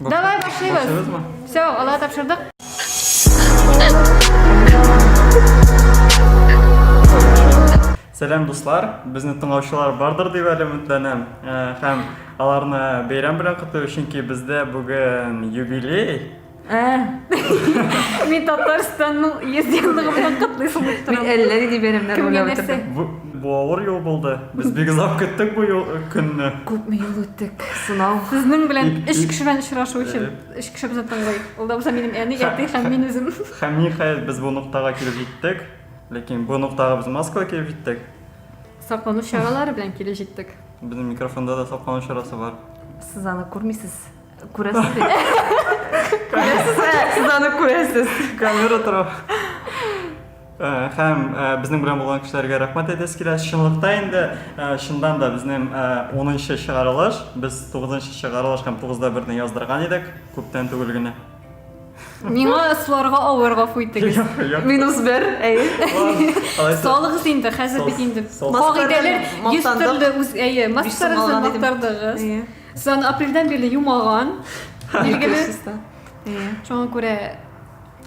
Давай башлыйбыз. Все, алга тапшырдык. Сәлам дуслар, безне тыңлаучылар бардыр дип әле өметләнәм. Э, һәм аларны бәйрәм белән котлыйбыз, чөнки бездә бүген юбилей. Э. Мин Татарстанның 100 еллыгы белән котлыйсың дип торам. Мин әллә нинди бәйрәмнәр уйлап утырдым. Бу авыр юл булды. Без бик озак көттек бу юл көнне. Күпме юл үттек, сынау. Сезнең белән өч кеше белән очрашу өчен өч кеше безне тыңлый. Ул да булса минем әни, әти һәм мин үзем. Һәм ниһаять без бу ноктага килеп җиттек. Ләкин бу ноктага без маскалы килеп җиттек. Саклану чаралары белән килеп җиттек. Безнең микрофонда да саклану чарасы бар. Сез аны күрмисез. Күрәсез бит. Күрәсез, сез аны күрәсез. Камера тора. Хәм безнең белән булган кешеләргә рәхмәт әйтәсе килә. Чынлыкта инде чыннан да безнең 10нчы чыгарылыш, без 9нчы чыгарылыш һәм 9да берне яздырган идек, күптән түгел генә. Миңа сларга авыр гафу итегез. Минус бер, әйе. Салыгыз инде, хәзер бит инде. Кагыйдәләр йөз төрле үз, әйе, маскараны мактардыгыз. Сан апрельдән бирле юмаган. Билгеле. Шуңа күрә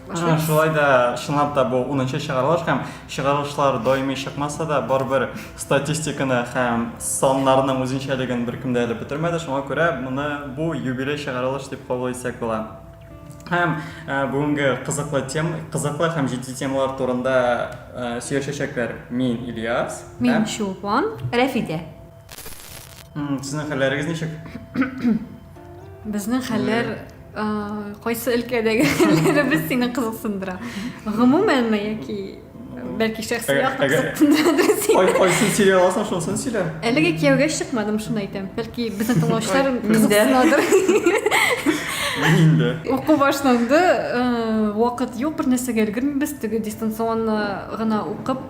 Ага, шулай да чынлап та бу 10 нчы чыгарылыш һәм чыгарылышлар даими чыкмаса да барыбер статистиканы һәм саннарның үзенчәлеген беркем дә әле бетермәде шуңа күрә моны бу юбилей чыгарылыш дип кабул итсәк була һәм ә, бүгенге кызыклы тем кызыклы һәм җитди темалар турында ә, сөйләшәчәкләр мин ильяс мин һәм чулпан рәфидә Сезнең хәлләрегез ничек? Безнең хәлләр кайсы өлкәдәге хәлләребез сине кызыксындыра? Гомумәнме яки бәлки шәхси якны кызыксындырадыр сине? Кайсын сөйли аласың, шунысын сөйлә. Әлеге кияүгә чыкмадым, шуны әйтәм. Бәлки безнең тыңлаучылар кызыксынадыр. Инде. Уку башланды, вакыт юк, бер нәрсәгә өлгермибез, теге дистанционно гына укып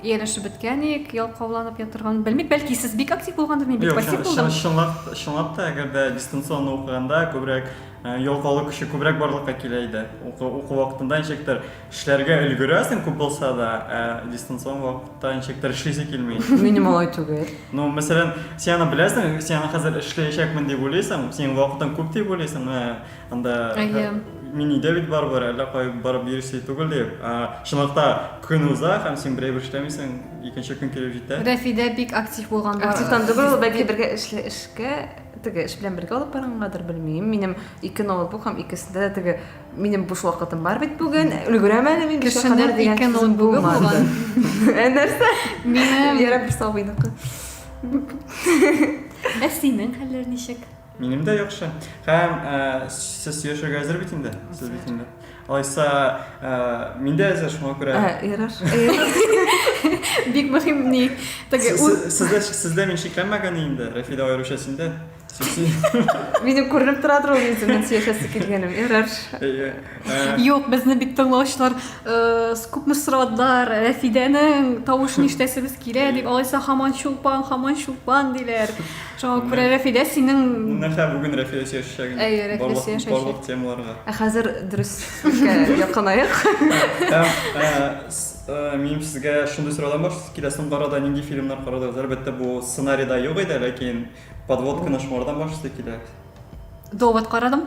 Ияләшеп беткәник, ялкауланып ятырган, белмик, бәлки сез бик актив булгандыр, мин бик пассив булдым. Юк, чынлап, чынлап та, әгәр дә дистанционно укыганда күбрәк э, ялкаулык көче күбрәк барлыкка килә иде. Уку, уку вакытында ничектер эшләргә өлгерәсең күп булса да, ә дистанцион вакытта ничектер эшлисе килми. Минем алай түгел. Ну, мәсәлән, син аны беләсең, син аны хәзер эшләячәкмен дип уйлыйсың, синең вакытың күп дип уйлыйсың, менә Анда Әйе. мини өйдә бит барыбер әллә кай барып йөри сый түгел дип. Ә, Чынлыкта көн уза һәм син берәй бер эшләмисең, икенче көн килеп җитә. Рәфидә бик актив булган бар. Активтан түгел, ул бәлки бергә эшле эшкә теге эш белән бергә алып баргангадыр, белмим. Минем ике ноутбук һәм икесендә дә теге минем буш вакытым бар бит бүген. Өлгерәм әле мин бишкә Кешенең кадәр дигән ике сүзем ноутбугы булмады. булган. Ә нәрсә? Минем Ярар, бер сабыйныкы. Ә синең хәлләр ничек? Минем дә яхшы. Һәм ә, сез сөйләшергә әзер бит инде? Сез бит инде. Алайса, ә, мин дә әзер, шуңа күрә. Ә, ярар. Бик мөһим ни. Теге үз Сездә сездә мин шикләнмәгән инде, Рәфидә аеруча синдә. Минем күренеп тора тору үзем мин сөйләшәсе килгәнем. Ярар. Юк, безне бит тыңлаучылар күпме сорадылар, Рәфидәнең тавышын ишетәсебез килә дип, алайса хаман чулпан, хаман чулпан диләр. Чоң күрә Рәфидә синең Менә бүген Рәфидә сөйләшәчәк. Әйе, Рәфидә сөйләшәчәк. Барлык темаларга. Ә хәзер дөреслеккә якынаек. Һәм минем сезгә шундый сораудан башлыйсы килә, соңгы арада нинди фильмнар карадыгыз? Әлбәттә, бу сценарида юк иде, ләкин подводканы шуңардан башлыйсы килә. Довод карадым.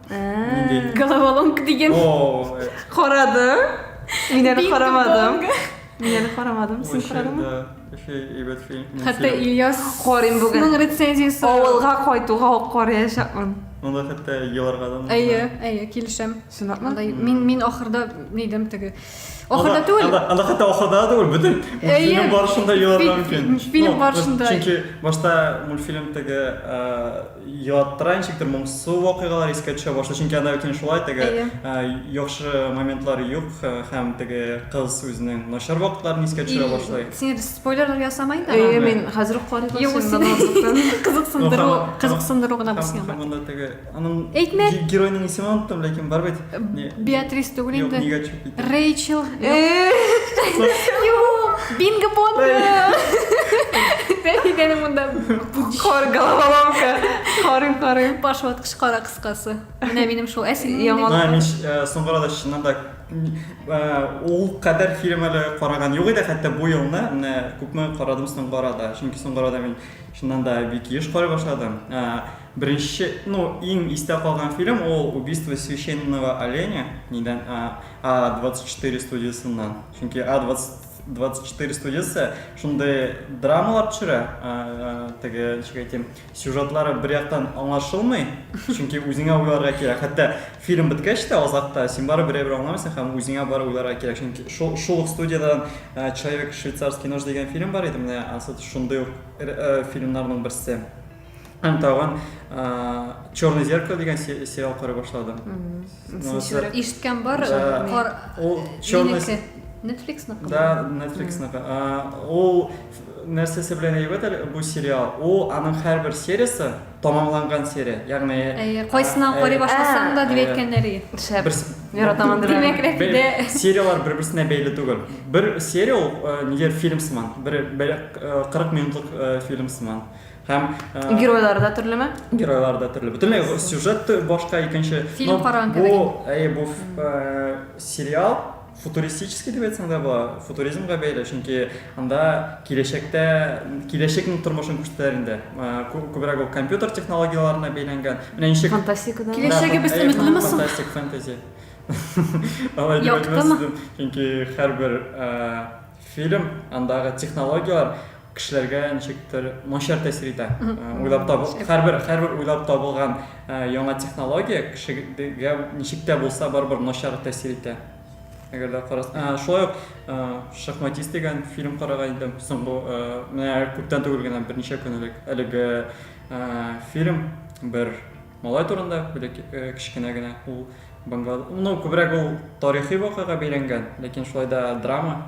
Нинди? Головоломка дигән. О, э, Карады. Мин әле Бинго карамадым. бонго. Мин әле карамадым. Син вообще, карадыңмы? да, вообще әйбәт фильм. Хәтта мультфильм. Ильяс Карыйм бүген. Ның рецензиясе. Авылга кайтуга ук караячакмын. Монда хәтта еларга да. Әйе, әйе, килешәм. Чынлапмы? Андай, мин, мин ахырда нидем теге Ахырда түгел. Анда, анда хәтта ахырда түгел, бөтен фильм барышында еларга мөмкин. Фильм барышында. Чөнки башта мультфильм теге яттыра ничектер моңсу вакыйгалар искә төшә башлый. Чөнки анда бит шулай теге яхшы моментлар юк һәм теге кыз үзенең начар вакытларын искә төшерә башлый. Син спойлерлар ясамай да. Әйе, мин хәзер үк карыйм. Кызыксындыру, кызыксындыру гына булсын. Монда теге Аның Әйтмә. ге- геройның исемен оныттым, ләкин бар бит. Не- Беатрис түгел Юк, инде. нигә чүп итә? Рэйчел. Юк, Бинго Бонго. Рәфикәнең монда Хор головоломка. Хорым, хорым. баш ваткыч кара кыскасы. Менә минем шул. Ә син Яман. Мә, мин ш- э, соңгы арада чыннан да э, ул кадәр фильм әле караган юк иде, хәтта бу елны менә күпме карадым соңгы арада. Чөнки соңгы арада мин чыннан да бик еш карый башладым. Э, Беренче, ну, иң истә калган фильм ул Убийство священного оленя, нидән, а, А 24 студиясеннән. Чөнки А 24 студиясе шундый драмалар төшерә, а, а, теге, ничек әйтим, сюжетлары бер яктан аңлашылмый, чөнки үзеңә уйларга кирәк. Хәтта фильм беткәч тә, азакта, син барыбер берәйбер аңламыйсың һәм үзеңә барып уйларга кирәк. Чөнки шул, шул ук студиядән а, Человек швейцарский нож дигән фильм бар иде, менә анысы шундый ук р, э, фильмнарның берсе. Һәм тагын Черное зеркало дигән сериал карый башладым. Ишеткән бар. Ул Черное Netflix-ныкы. Да, Netflix-ныкы. Ул нәрсәсе белән әйбәт әле бу сериал. Ул аның һәрбер сериясе тамамланган серия. Ягъни Әйе, кайсына карый башласаң да дип әйткәннәр иде. Шәп. Яратамын дип. Димәк, дә сериялар бер-берсенә бәйле түгел. Бер серия ул нигә фильм сыман, бер 40 минутлык фильм сыман. Һәм э, геройлары да төрлеме? Геройлары да төрле. Бөтенләй сюжет башка икенче. Фильм караган кебек. Бу, әйе, бу э, сериал футуристический дип әйтсәң дә була, футуризмга бәйле, чөнки анда киләчәктә киләчәкнең тормышын күрсәтәләр инде. Күбрәк ул компьютер технологияләренә бәйләнгән. Менә ничек фантастикадан. Киләчәгебез өметлеме соң? Фантастик фэнтези. Алай дип әйтмәс идем, чөнки һәрбер фильм андагы технологияләр кешеләргә ничектер начар тәэсир итә. Уйлап табыл, һәрбер һәрбер уйлап табылган яңа технология кешегә ничек тә булса барыбер начар тәэсир итә. Әгәр дә карас, шулай ук Шахматист дигән фильм караган идем. Соңгы менә күптән түгел генә берничә көн элек. Әлеге фильм бер малай турында, бер кечкенә генә ул Бангладеш. Ну, күбрәк ул тарихи вакыйга бәйләнгән, ләкин шулай да драма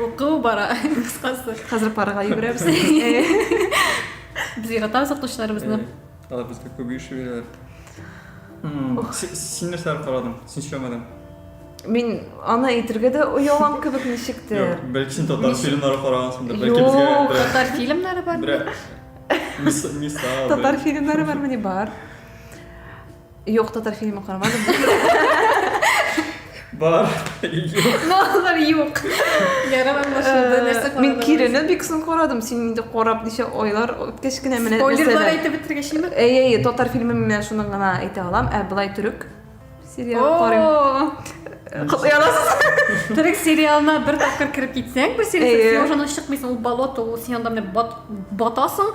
Уку бара, кыскасы. Хәзер парга йөгерәбез. Без яратабыз укытучыларыбызны. Алар безгә күп еш бирәләр. Син нәрсә карадың? Син сөйләмәдең. Мин аны әйтергә дә оялам кебек ничек тә. Юк, бәлки син татар фильмнары карагансыңдыр, бәлки безгә. Юк, татар фильмнары бар. Мисал. Татар фильмнары бар, мени бар. Юк, татар фильмы карамадым. Бар. Юк. Бар, юк. Ярым аңлашылды, э, нәрсә карадың? Мин Кирины бик соң карадым. Син инде карап ничә айлар үткәч кенә менә Спойлерлар әйтеп бетергәч инде. Әй, әй, татар фильмы мин шуны гына әйтә алам. Ә былай төрек сериал карыйм. Кылыяласыз. Төрек сериалына бер тапкыр кереп китсәң, бу сериал син уже чыкмыйсың, ул болото, ул син анда менә батасың.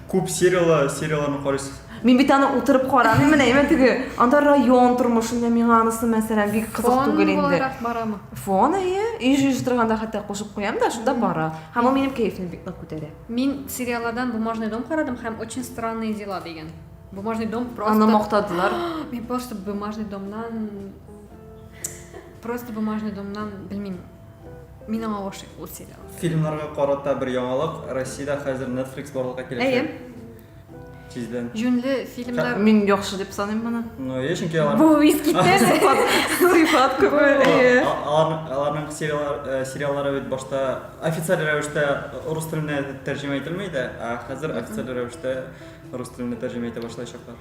Күп сериялы серияларны карыйсыз? Мин бит аны утырып карамыйм, менә имә теге, анда район тормышы, менә миңа анысы мәсәлән бик кызык Фон түгел инде. буларак барамы? Фон әйе, өй җыештырганда торганда хәтта кушып куям да, шунда бара. Һәм ул минем кәефне бик нык күтәрә. Мин сериалладан Бумажный дом карадым һәм Очень странные дела дигән. Бумажный дом просто Аны мактадылар. Мин просто Бумажный домнан просто Бумажный домнан белмим. Мин аңа гашыйк ул сериал. Фильмнарга карата бер яңалык, Россиядә хәзер Netflix барлыкка киләчәк. Тиздән. Юнле фильмнар. Мин яхшы дип саныйм моны. Ну, я чөнки алар. Бу виски сыйфат, сыйфат күпме? Аларның э, сериаллары бит башта официаль рәвештә рус теленә тәрҗемә ителмәй дә, ә хәзер официаль рәвештә рус теленә тәрҗемә итә башлаячаклар.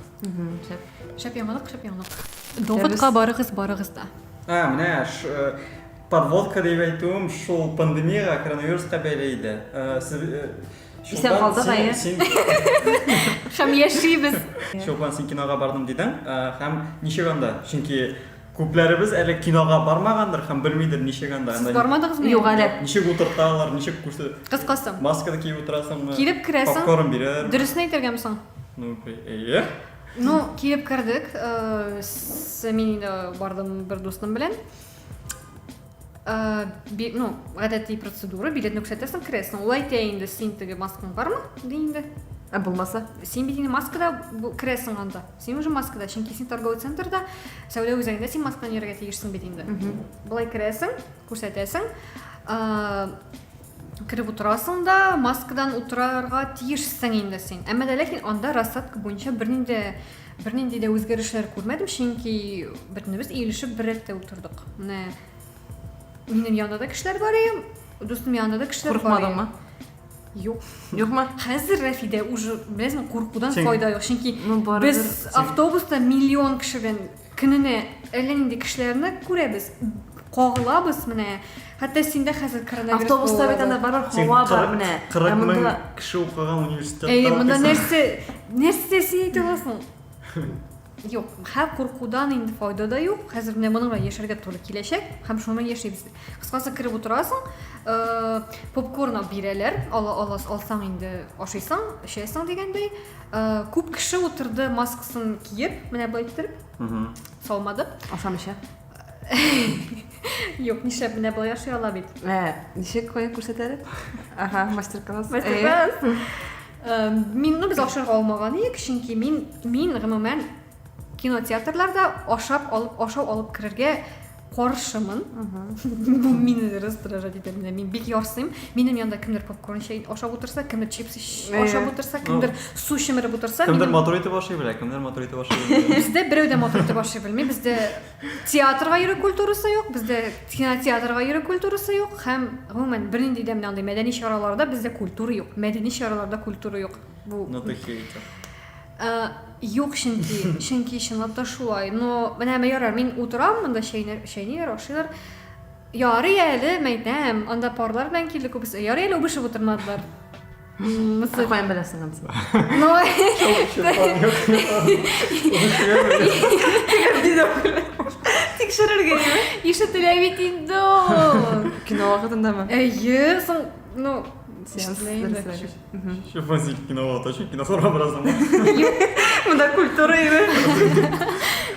Шәп яңалык, шәп яңалык. Доводка барыгыз, барыгыз да. А, менә подводка дип әйтүем шул пандемияга, коронавируска бәйле иде. Исән калдык әйе. Һәм яшибез. Чулпан, син кинога бардың дидең, һәм ничек анда? Чөнки күпләребез әле кинога бармагандыр һәм белмидер ничек анда. Сез бармадыгызмы? Юк әле. Ничек утырталар, ничек күрсә? Кыскасы. Масканы киеп утырасыңмы? Килеп керәсең. Попкорн бирәләр. Дөресен әйтергәме соң? Ну, әйе. Ну, килеп кердек. Э, мин инде бардым бер дусным белән. Э, ну, гадәти процедура, билетны күрсәтәсең, керәсең. Ул әйтә инде, син теге маскаң бармы? ди инде. Ә булмаса? Син бит инде маскада керәсең анда. Син уже маскада, чөнки син торговый центрда, сәүдә үзәгендә син масканы йөрергә тиешсең бит инде. Былай керәсең, күрсәтәсең. Э, Кереп утырасың да, маскадан утырарга тиешсең инде син. Әмма дә ләкин анда рассадка буенча бернинди бернинди дә үзгәрешләр күрмәдем, чөнки бөтенебез иелешеп бер рәттә утырдык. Менә минем янымда да кешеләр бар иде, дустым янында да кешеләр бар. Курыкмадыңмы? Юк. Юкмы? Хәзер Рәфидә уже, беләсең, куркудан файда юк, чөнки без автобуста миллион кеше белән Көненә әллә нинди кешеләрне күрәбез, кагылабыз менә. Хәтта синдә хәзер коронавирус булуы. Автобуста бит анда барыбер һава бар менә. Ә монда кеше укыган университетта укыйсың. Әйе, монда нәрсә, нәрсә син әйтә аласың? Юк, хә куркудан инде файда да юк. Хәзер менә моның белән яшәргә туры киләчәк һәм шуны яшибез. Кыскасы кереп утырасың, попкорн бирәләр, ала аласың, алсаң инде ашыйсың, эчәсең дигәндәй. Күп кеше утырды маскасын киеп, менә былай китереп, салмады. Ашам эчә. Юк, нишләп менә былай ашый ала бит. Ә, ничек кая күрсәтәле? Ага, мастер-класс. Мастер-класс. Мин, ну, без ашарга алмаган идек, чөнки мин, мин гомумән Кинотеатрларда ашап алып, ашау алып керергә каршымын. Бу мине раздражать итә. Менә мин бик ярсыйм. Минем янда кемдер попкорн чәй ашап утырса, кемдер чипсы ашап утырса, кемдер су чемереп утырса, кемдер матур итеп ашый белә, кемдер матур итеп ашый белә. Бездә берәү дә матур итеп ашый белми. Бездә театрга йөрү культурасы юк, бездә кинотеатрга йөрү культурасы юк һәм гомумән бернинди дә менә андый мәдәни чараларда бездә культура юк. Мәдәни чараларда культура юк. Бу Ну ты хейтер. Ә, юк, чөнки, чөнки чынлап та шулай. Но менә мә ярар, мин утырам, монда чәйнәр, чәйниләр, ашыйлар. Ярый әле, мәйтәм, анда парлар белән килде күбесе. Ярый әле үбешеп утырмадылар. Мысы. Каян беләсең аны? Но Тикшерергә яме. ишетелә бит инде ул. Кино вакытындамы? Әйе, соң, ну, Сеанс ишетелә инде. дәресләре. Еще фазик кинолот, очень киносообразным. Мында культура иде.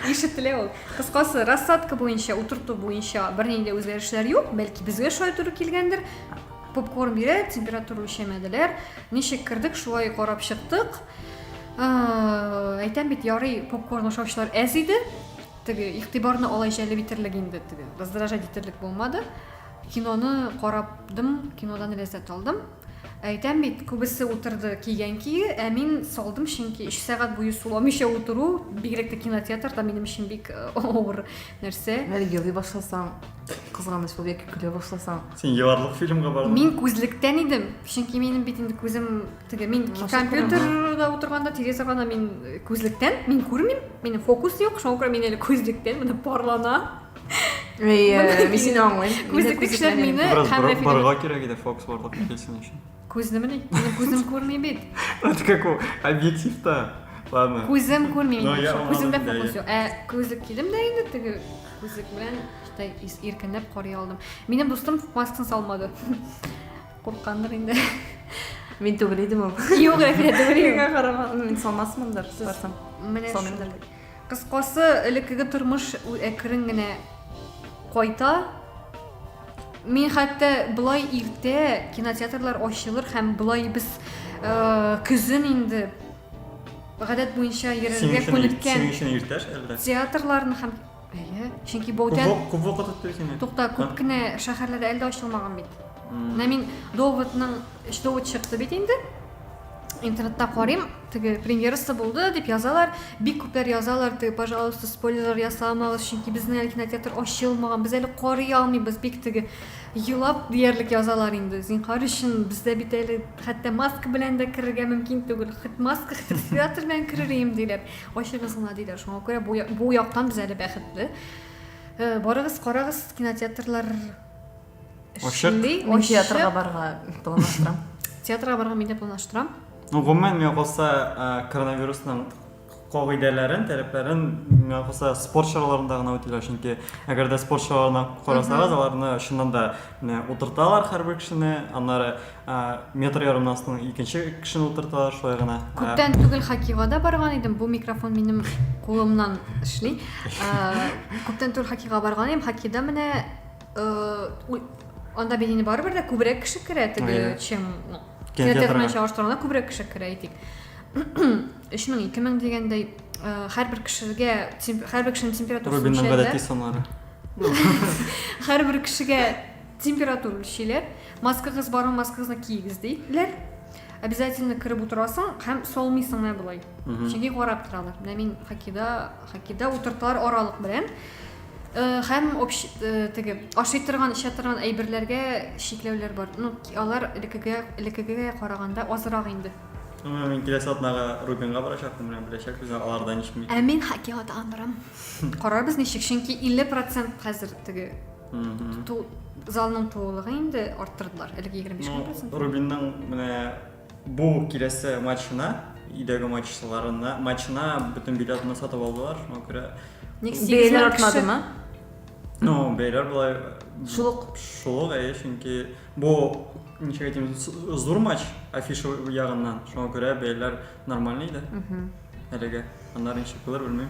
Ишетелә ул. Кыскасы, рассадка буенча, утырту буенча бернинди үзгәрешләр юк, бәлки безгә шулай туры килгәндер. Попкорн бирә, температура үлчәмәделәр. Ничек кердек, шулай карап чыктык. Әйтәм бит, ярый попкорн ашаучылар әз иде. Теге игътибарны алай җәлеп итерлек инде, теге раздражать итерлек булмады. Киноны карадым, кинодан ләззәт алдым. Әйтәм бит, күбесе утырды кигән кие, ә мин салдым, чөнки өч сәгать буе суламыйча утыру, бигрәк тә кинотеатрда минем өчен бик авыр нәрсә. Әле елый башласаң, кызганыч булып яки көлә башласаң. Син еларлык фильмга бардың? Мин күзлектән идем, чөнки минем бит инде күзем теге, мин компьютерда утырганда тирәсе гана мин күзлектән, мин күрмим, минем фокус юк, шуңа күрә мин әле күзлектән, менә парлана. Э, мин сине аңлыйм. Күзе тикшер мине. Бераз барга кирәк иде Фокс барлык килсен өчен. Күзне мени? Күзем күрми бит. Это как у объективта. Ладно. Күзем күрми. Күземдә фокус юк. Ә күзлек кидем дә инде теге күзлек белән штай иркенләп карый алдым. Минем дустым маскын салмады. Курккандыр инде. Мин түгел идем ул. Юк, әкрәтем. Миңа карама. Мин салмасмындыр, сарсам. Менә шундый. Кыскасы, элеккеге тормыш әкрен генә кайта. Мин хәтта болай иртә кинотеатрлар ачылыр һәм болай без э, көзен инде гадәт буенча йөрергә күнеккән театрларны һәм әйе чөнки баутян күп вакыт үтте сине тукта күп кенә шәһәрләрдә әле дә ачылмаган бит менә мин доводның өч довод чыкты бит инде интернетта карыйм Теге премьерасы булды дип язалар, бик күпләр язалар, теге пожалуйста спойлерлар ясамагыз, чөнки безнең әле кинотеатр ачылмаган, без әле карый алмыйбыз, бик теге елап диярлек язалар инде. Зинхар өчен бездә бит әле хәтта маска белән дә керергә мөмкин түгел. Хит маска, хит респиратор белән керер идем диләр. Ачыгыз гына диләр. Шуңа күрә бу яктан без әле бәхетле. Э, барыгыз, карагыз кинотеатрлар Ачык. Мин театрга барырга планлаштырам. Театрга барырга мин дә планлаштырам. Ну, гомумән, миңа калса, коронавирусның кагыйдәләрен, таләпләрен миңа калса спорт чараларында гына үтиләр, чөнки әгәр дә спорт чараларына карасагыз, аларны чыннан да утырталар һәрбер кешене, аннары метр ярымнан астын икенче кешене утырталар, шулай гына. Күптән түгел хоккейга да барган идем, бу микрофон минем кулымнан эшли. Күптән түгел хоккейга барган идем, хоккейда менә анда бит инде барыбер дә күбрәк кеше керә теге чем ну кинотеатр белән чагыштырганда күбрәк кеше керә әйтик өч мең ике мең дигәндәй һәрбер кешегә һәрбер кешенең температурасы рубинның гадәти саннары һәрбер кешегә температура өлчиләр маскагыз бармы маскагызны киегез диләр обязательно кереп утырасың һәм солмыйсың менә болай чөнки карап торалар менә мин хоккейда хоккейда утырталар аралык белән Һәм общ теге ашый торган, эчә торган әйберләргә чикләүләр бар. Ну, алар элеккегә, элеккегә караганда азрак инде. М, Мин киләсе атнага Рубинга барачакмын, менә беләчәкбез инде аларда ничек микән. Ә мин хоккейга тагын барам. Карарбыз ничек, чөнки 50 процент хәзер теге Мгм. ту- залның тулылыгы инде арттырдылар. Элек егерме биш генә Ну, процент. Рубинның менә Бу киләсе матчына, өйдәге матчларына, матчына бөтен билетны сатып алдылар, шуңа күрә. Ник бәяләр артмадымы? Ну, бәяләр болай шулык. Шулык, әйе, чөнки бу ничек әйтим, зур матч афиша ягыннан, шуңа күрә бәяләр нормальный иде. Әлегә. Аннары ничек булыр, белмим.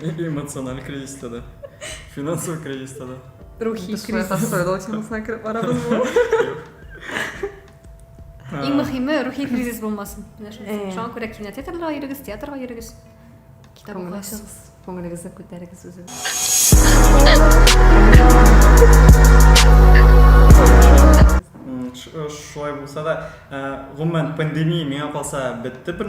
Эмоциональ кризиста да. Финансовый кризиста да. Рухи кризис. Сойлау темасына кереп барабыз бу. Иң мөхиме рухи кризис булмасын. Шуңа күрә кинотеатрга йөрегез, театрга йөрегез. Китап укыгыз. Күңелегезне күтәрегез үзегез. Э, шулай булса да э, гомумән пандемия миңа калса бетте бер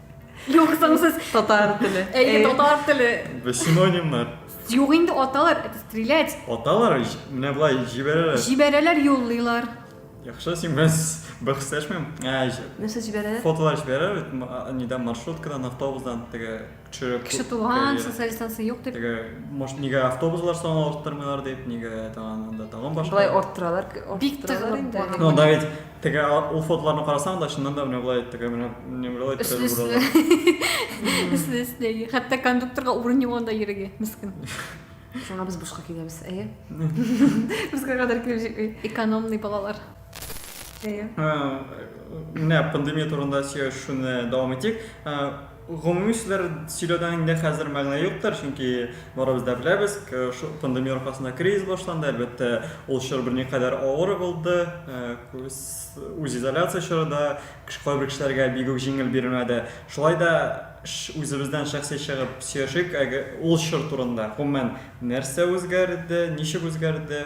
Юк, соңсыз. Татар теле. Әйе, э. татар теле. Бе синонимнар. Юк инде аталар, это стрелять. Аталар, менә былай җибәрәләр. Җибәрәләр, юллыйлар. Яхшы, син без бер хисәшмим. Ә, нәрсә җибәрәләр? Фотолар җибәрәләр, нидә маршруткадан, автобусдан, теге төшереп. Кеше туган, социаль дистанция юк дип. Теге, может, нигә автобуслар саны арттырмыйлар дип, нигә тагын анда тагын башка. Былай арттыралар, арттыралар инде. Ну, да ведь Теге ул фотоларны карасаң да, чыннан да менә болай теге менә менә болай тирәли Өсле-өсле. буралар. Өсле-өсле. Хәтта кондукторга урын юк анда йөрергә, мескен. Шуңа без бушка киләбез, әйе? Бушка кадәр килеп җитми. Экономный балалар. Әйе. Менә пандемия турында сөйләшүне дәвам итик. Гомуми сүзләр сөйләүдән инде хәзер мәгънә юктыр, чөнки барыбыз да беләбез, шул пандемия аркасында кризис башланды, әлбәттә, ул чор берникадәр авыр булды, күз үзизоляция чоры да кайбер кешеләргә бик үк җиңел бирелмәде. Шулай да үзебездән шәхси чыгып сөйләшик әле ул чор турында, гомумән, нәрсә үзгәрде, ничек үзгәрде?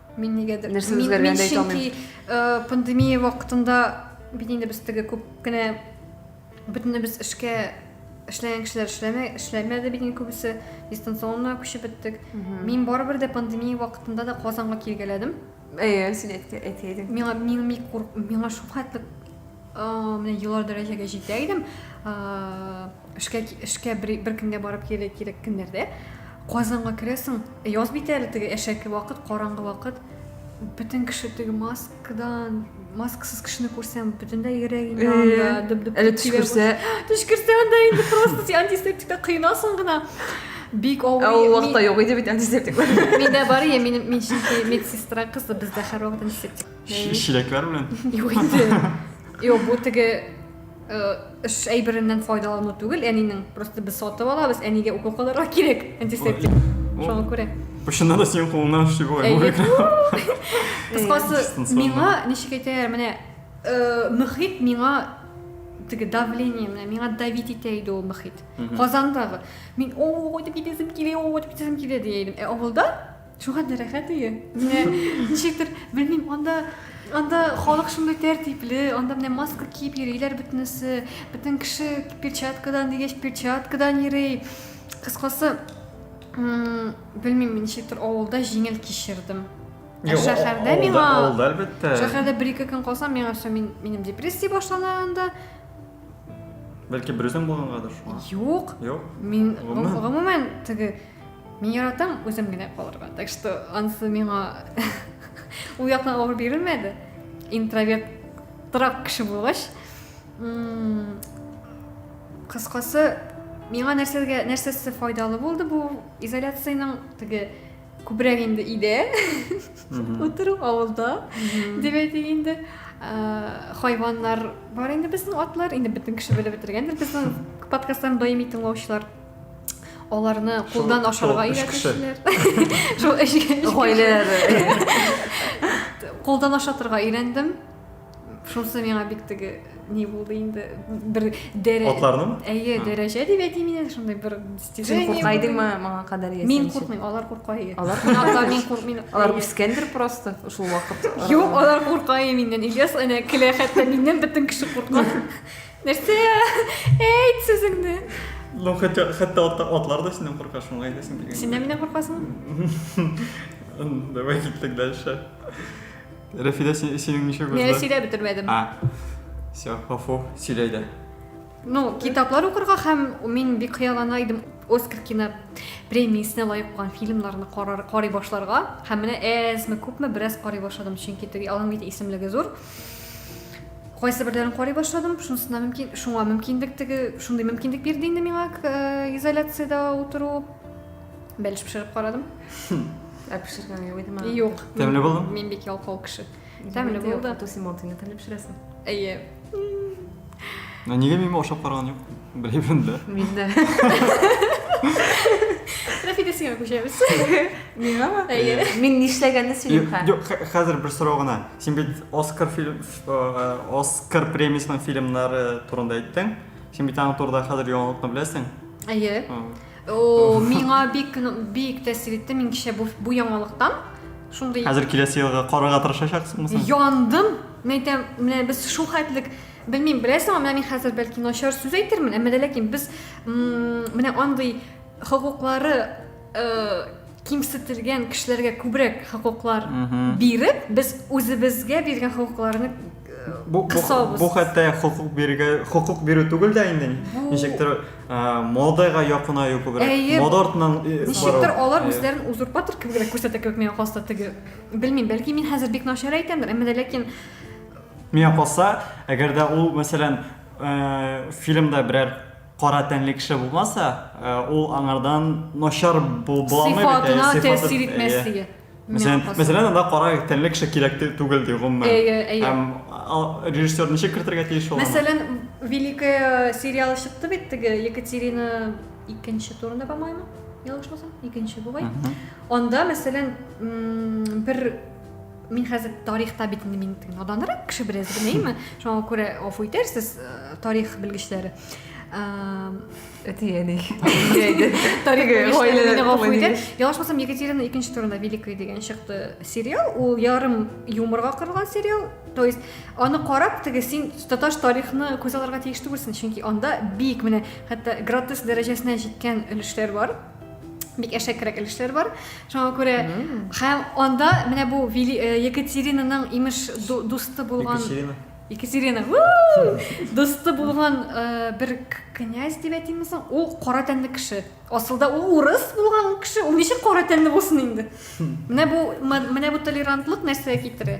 Мин нигәдер Нәрсә мин, үзгәргәнен мин дә әйтә чөнки алмыйм. э, пандемия вакытында бит инде без теге күп кенә бөтенебез эшкә эшләгән кешеләр эшләмә, эшләмәде бит инде күбесе дистанционно күчеп беттек. Мин барыбер дә пандемия вакытында да Казанга килгәләдем. Әйе, син әйтә- әйтә идең. Миңа мин бик курк, миңа шул хәтле э, менә елар дәрәҗәгә җитә идем. Э, Эшкә эшкә бер, бер көнгә барып килә кирәк көннәрдә Казанга керәсең. Э, яз бит әле теге әшәке вакыт, караңгы вакыт. Бөтен кеше теге маскадан, маскасыз кешене күрсәм, бөтенләй йөрәгем э, янда, дөп-дөп. Әле төш күрсә, төш күрсә анда инде просто син антисептикта кыйнасың гына. Бик авыр. Ә ул вакытта юк иде бит антисептик. Миндә бар я минем мин чөнки медсестра кызы бездә һәрвакыт антисептик. Чиләкләр белән. Юк инде. Юк, бу теге Эш әйбереннән файдалану түгел, әнинең. Просто без сатып алабыз, әнигә укол кылырга кирәк, антисептик. Шуңа күрә. Почында да синең кулыңнан эшли була. Кыскасы, миңа ничек әйтәләр, менә мөхит миңа теге давление менә миңа давить итә иде ул мөхит казандагы мин ой дип китәсем килә ой дип китәсем килә дия идем ә авылда Шуңа да рәхәт өе. Менә ничектер, белмим, анда анда халык шундый тәртипле, анда менә маска киеп йөриләр бөтенесе, бөтен кеше перчаткадан дигәч перчаткадан йөри. Кыскасы, белмим, ничектер авылда җиңел кичердем. Ә шәһәрдә миңа авылда әлбәттә. Шәһәрдә бер ике көн калсам, миңа все мин минем депрессия башлана анда. Бәлки берүзең булгангадыр шуңа. Юк. Юк. Мин гомумән теге Мин яратам үзем генә калырга, так что ансы миңа ул яктан авыр бирелмәде. Интроверт торак кеше булгач, кыскасы, миңа нәрсәгә нәрсәсе файдалы булды бу изоляциянең теге күбрәк инде иде. Утыру авылда дип әйтик инде. Хайваннар бар инде безнең атлар, инде бөтен кеше белеп бетергәндер безнең подкастларны даими тыңлаучылар. аларны кулдан ашарга өйрәтүчеләр шул өч гаиләләре кулдан ашатырга өйрәндем шунысы миңа бик теге ни булды инде бер дәрә атларның әйе дәрәҗә дип әйтим инде шундай бер син курка идеңме моңа кадәр мин куркмыйм алар курка иде алар мин куркмыйм алар үскәндер просто шул вакыт юк алар курка миннән ильяс әнә көлә хәтта миннән бөтен кеше курка Нәрсә? Әйт сүзеңне. Ну, хәтта хәтта атлар да синнән курка, шуңа әйтәсең килгән. Синнән миннән куркасың? Давай киттек дальше. Рәфидә, синең ничек узды? Мин сөйләп бетермәдем. А. Все, гафу, сөйләй дә. Ну, китаплар укырга һәм мин бик хыяллана идем Оскар кино премиясенә лаек булган фильмнарны карый башларга. Һәм менә әзме күпме бераз карый башладым, чөнки теге аның бит исемлеге зур. Кайсы берләрен карый башладым, шунысына мөмкин, шуңа мөмкинлек теге, шундый мөмкинлек бирде инде миңа э, изоляциядә утыру. Бәлеш пешереп карадым. Ә пешергән юк идеме? Юк. Тәмле булды? Мин бик ялкау кеше. Тәмле булды. Тосимонтыны тәмле пешерәсең. Әйе. Ә нигә мин ашап караган юк? Белмим дә. Мин дә. Рәфидә сиңа күчәбез. Миңа ма? Әйе. Мин нишләгәнне сөйлим хә. Юк, хәзер бер сорау гына. Син бит Оскар фильм э, Оскар премиясенең фильмнары турында әйттең. Син бит аның турында хәзер яңалыкны беләсең. Әйе. О, миңа бик бик тәэсир итте. Мин кичә бу, бу яңалыктан шундый Хәзер киләсе елга карарга тырышачаксыңмы соң? Яндым. Мин әйтәм, менә без шул хәтлек белмим, беләсеңме, менә мин хәзер бәлки начар сүз әйтермен, әмма дә ләкин без менә андый хокуклары э, кимсетелгән кешеләргә күбрәк хокуклар биреп, без үзебезгә биргән хокукларны бу, бу, бу хәтта хокук бирергә хокук бирү түгел дә инде ничектер модага якынаю күбрәк мода артыннан ничектер алар үзләрен узурпатор кебегрәк күрсәтә кебек миңа калса теге белмим бәлки мин хәзер бик начар әйтәмдер әмма ләкин миңа калса әгәр дә ул мәсәлән фильмда берәр кара тәнле кеше булмаса ул аңардан начар була алмый бит сыйфатына тәэсир итмәслеге Мәсәлән, мәсәлән, анда кара тәнле кеше кирәк түгел ди гомумән. Әйе, әйе. Һәм режиссер ничек кертергә тиеш ул? Мәсәлән, Великая сериал чыкты бит теге Екатерина икенче турында, по-моему, ялгышмасам, икенче бугай. Анда, мәсәлән, бер мин хәзер тарихта бит инде мин наданрак кеше бераз генә, әйме? Шуңа күрә афу итәрсез, э, тарих белгечләре. әтиәни ялгыш булсам екатерина икенче турында великая деген чыкты сериал ул ярым юморга корылган сериал то есть аны карап теге син таташ тарихны күз алырга тиеш түгелсең чөнки анда бик менә хәтта гротеск дәрәҗәсенә җиткән өлешләр бар бик әшәкерәк өлешләр бар шуңа күрә һәм анда менә бу э, екатеринаның имеш дусты булган Екатерина, уу! Дусты булган э, бер к- князь дип әйтимме соң? Ул кара тәнле кеше. Асылда ул урыс булган ул кеше, ул ничек кара тәнле булсын инде? Менә бу м- менә бу толерантлык нәрсәгә китерә?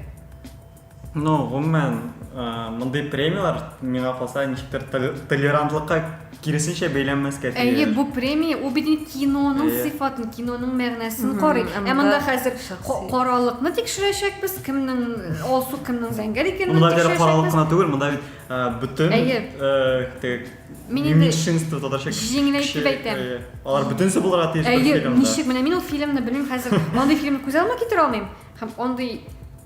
Ну, гомумән, э, мондый премияләр миңа калса ничектер толе- толерантлыкка Киресенчә бәйләнмәскә тиеш. Әйе, бу премия ул бит инде киноның Әйе. сыйфатын, киноның мәгънәсен Мгм, карый. ә Ә монда монда хәзер шәхси. ка- каралыкны тикшерәчәкбез, кемнең алсу, кемнең зәңгәр икәнен Монда гел каралык тикшерәчәкбез. кына түгел, монда бит ә, бөтен Әйе. э, теге Мин инде меньшинство, татарча кеше, җиңеләйтеп әйтәм. әйе, алар бөтенесе булырга тиеш бер Әйе, фильмда. ничек, менә мин ул фильмны белмим хәзер. Андый фильмны күз алдыма китерә алмыйм һәм андый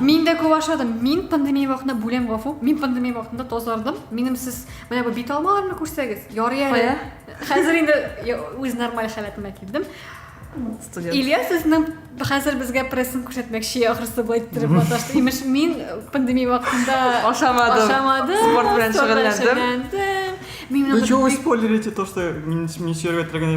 Мин дә күп ашадым. Мин пандемия вакытында бүләм гафу. Мин пандемия вакытында тазардым. Минем сез менә бу бит алмаларны күрсәгез, ярый әле. Хәзер инде үз нормаль халәтемә килдем. Студент. Илья сезнең хәзер безгә прессын күрсәтмәкче, ахрысы бу иттереп маташты. Имеш, мин пандемия вакытында ашамадым. Ашамадым. Спорт белән шөгыльләндем. Мин Вы чего вы спойлерите то, что министерство трагедии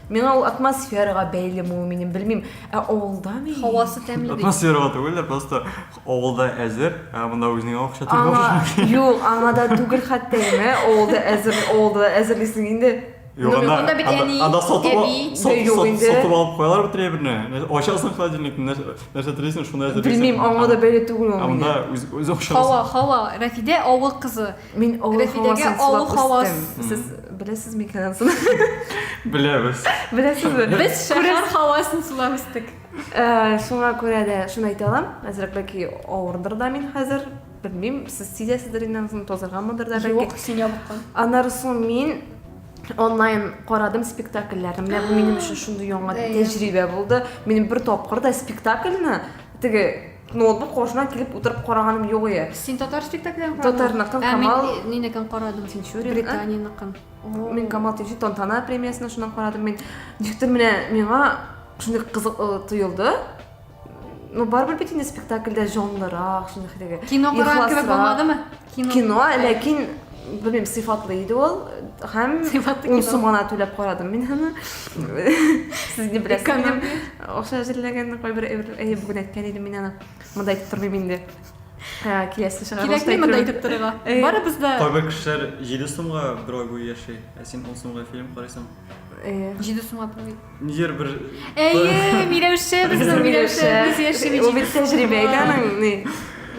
Миңа ул атмосферага бәйле муы минем белмим, ә авылда мени? Һавасы тәмле бит. Атмосферага түгел дә, просто авылда әзер, ә монда үзеңә акча түгел. Аңа, юк, аңа да түгел хәтта инде, авылда әзер, авылда да әзерлисең инде. Юк, анда, анда бит әни, анда сатып, әби, сатып, юк инде. Сатып алып куялар бит реберне. Ачасың холодильникны, нәрсә, нәрсә телисең, шуны әзерлисең. Белмим, аңа да бәйле түгел ул. Ә монда үз, үз акча. Хава, хава, Рафидә авыл кызы. Мин авыл хавасын сулап үстем. Сез беләсез микән ансын? Беләбез. Беләсезме? Без шәһәр хавасын сулап үстек. Э, шуңа күрә дә шуны әйтә алам. Әзрәк бәлки авырдыр да мин хәзер. Белмим, сез сизәсездер инде ансын тозырганмындыр да бәлки. Юк, син ябыккан. Аннары соң мин онлайн карадым спектакльләрне. Менә бу минем өчен шундый яңа тәҗрибә булды. Мин бер тапкыр да спектакльне теге Ноутбук кошына килеп утырып караганым юк ие. Син татар спектаклен карадың? Татарныкын Камал. Ә мин нинекен карадым? Син Чури, Британиныкын. Мин Камал Тинчи Тантана премиясен шуннан карадым. Мин никтер менә миңа шундый кызык э, тоелды. Ну, барыбер бит инде спектакльдә җанлырак, шундый хәтәгә. Кино караган кебек булмадымы? Кино, ләкин белмим, сыйфатлы иде ул һәм сыйфатлы ун сум гына түләп карадым мин аны. Сез не беләсезме? Акча әзерләгән кайбер әйе бүген әйткән идем мин аны. Монда әйтеп тормыйм инде. Киләсе чыгарылышта. Кирәкми монда әйтеп торырга. Барыбыз да Кайбер кешеләр 7 сумга бер ай буе яши, ә син 10 сумга фильм карыйсың. Әйе. 7 сумга Нидер бер... Әйе, Миләүшә безнең Миләүшә. Без яши бит. Ул бит тәҗрибә икән аның, ни.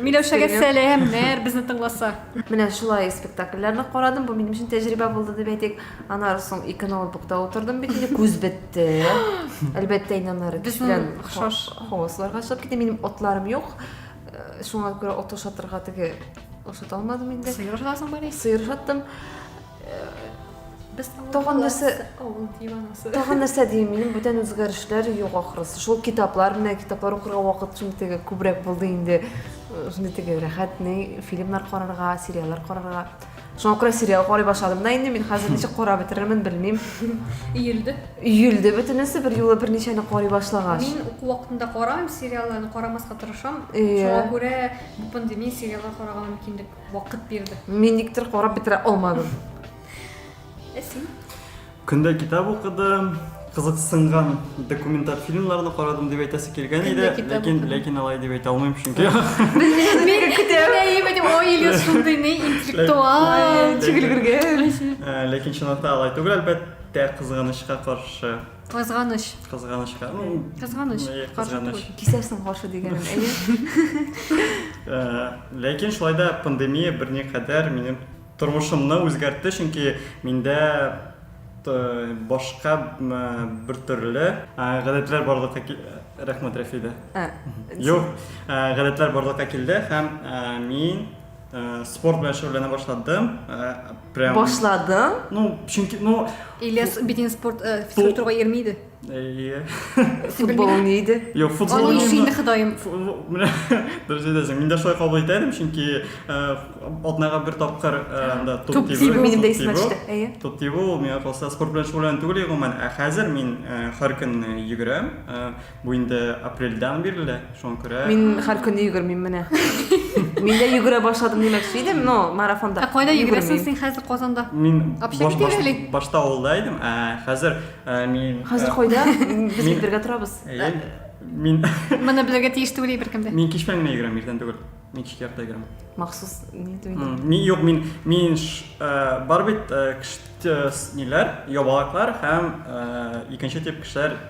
Миләүшәгә сәламнәр, безне тыңласа. Менә шулай спектакльләрне карадым, бу минем өчен тәҗрибә булды дип әйтик. Анар соң ике ноутбукта утырдым бит, инде күз бетте. Әлбәттә, инде аннары кич белән хавасларга чыгып китте. Минем отларым юк. Э, шуңа күрә от ошатырга теге ошата алмадым инде. Сыер ошатасың, Сыер ошаттым. без тагын нәрсә авыл диванасы тагын нәрсә дим мин бүтән үзгәрешләр юк ахрысы шул китаплар менә китаплар укырга вакыт шундый теге күбрәк булды инде шундый теге рәхәт ни фильмнар карарга сериаллар карарга шуңа күрә сериал карый башладым да инде мин хәзер ничек карап бетерермен белмим өелде өелде бөтенесе бер юлы берничәне карый башлагач мин уку вакытында карамыйм сериалларны карамаска тырышам шуңа күрә бу пандемия сериаллар карарга мөмкинлек вакыт бирде. Мин никтер карап бетерә алмадым. Ә син? Көндә китап укыдым, кызыксынган документаль фильмнарны карадым дип әйтәсе килгән иде, Көндә китап ләкин укыдым. ләкин алай дип әйтә алмыйм чөнки. Мин күтәрәйем идем, ой, Илюс шундый не интеллектуал. Чигелгергән. Ә, Ләкин чынлыкта алай түгел, әлбәттә, кызганычка каршы. Кызганыч. Кызганычка. Ну, Кызганыч. Әйе, Каршы кызганыч. түгел. Кисәрсең каршы дигәнем, әйе. Ә, Ләкин шулай да пандемия берникадәр минем тормышымны үзгәртте, чөнки миндә т- башка м, бер төрле ә, гадәтләр барлыкка ки- Рәхмәт, Рәфидә. Ә, Юк, ә, гадәтләр барлыкка килде һәм ә, мин ә, спорт белән шөгыльләнә башладым. Ә, Прям... Башладың? Ну, чөнки, ну... Ильяс битен спорт, э, физкультурга йөрми иде. Әйе. Футбол уйный иде. Юк, футбол уйный. Аны инде Ходаем. Менә дөрес әйтәсең. Мин дә шулай кабул итә идем, чөнки атнага бер тапкыр анда топ тибу. Минем дә исемә төште. Әйе. Топ тибу, миңа калса спорт белән шөгыльләнү түгел гомумән, ә хәзер мин һәр көнне йөгерәм. Бу инде апрельдән бирле, шуңа күрә. Мин һәр көн йөгермим менә. Мин дә йөгерә башладым димәкче идем, но марафонда. Ә кайда йөгерәсең син хәзер Казанда? Мин башта авылда идем, ә хәзер мин Хәзер кайда? Без бит бергә торабыз. Мин Моны белергә тиеш түгел беркем дә. Мин кичмән генә йөгерәм, иртән түгел. Мин кичкә ярты йөгерәм. Махсус ни димим? Мин юк, мин мин бар бит ниләр, ябалаклар һәм икенче тип кешеләр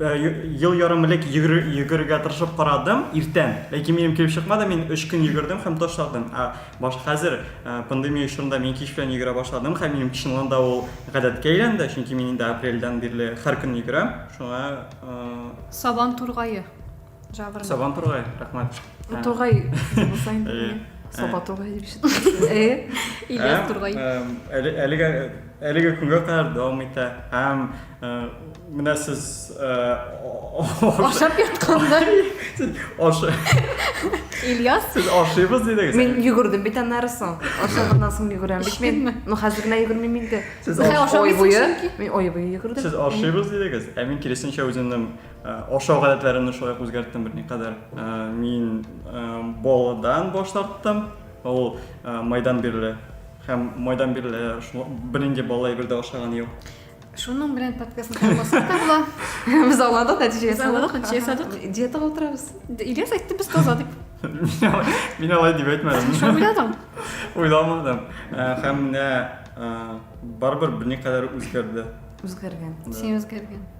Ел ярым элек йөгерергә тырышып карадым, иртән. Ләкин минем килеп чыкмады, мин 3 көн йөгердем һәм ташладым. Ә баш хәзер э, пандемия чорында мин кич белән йөгерә башладым һәм минем чынлан да ул гадәткә әйләнде, чөнки мин инде апрельдән бирле һәр көн йөгерәм. Шуңа э, Сабан тургае. Жабыр. Сабан тургай, рәхмәт. Тургай булсаң. Саба тургай дип шеттем. Э? Ильяс тургай. Әлегә әлегә күнгә кадәр дәвам итә. Һәм менә сез ашап ятканда ашы Ильяс сез ашыйбыз дидегез. Мин йөгердем бит аннары соң. Ашаганнан соң йөгерәм бит мин. Ну хәзер генә йөгермим инде. Сез ашыйбыз. Мин ой буе йөгердем. Сез ашыйбыз дидегез. Ә мин киресенчә үземнең Э, ашау гадәтләремне шулай үзгәрттем берникадәр э, мин э, баладан баш тарттым ул майдан бирле һәм майдан бирле бернинди бала әйбердә ашаган юк шуның белән подкастны тыңласак та була без аңладык нәтиҗә ясадык нәтиҗә ясадык диетага утырабыз ильяс айтты без таза дип мин алай дип әйтмәдем шуны уйладың уйламадым һәм менә барыбер берникадәр үзгәрде үзгәргән син үзгәргән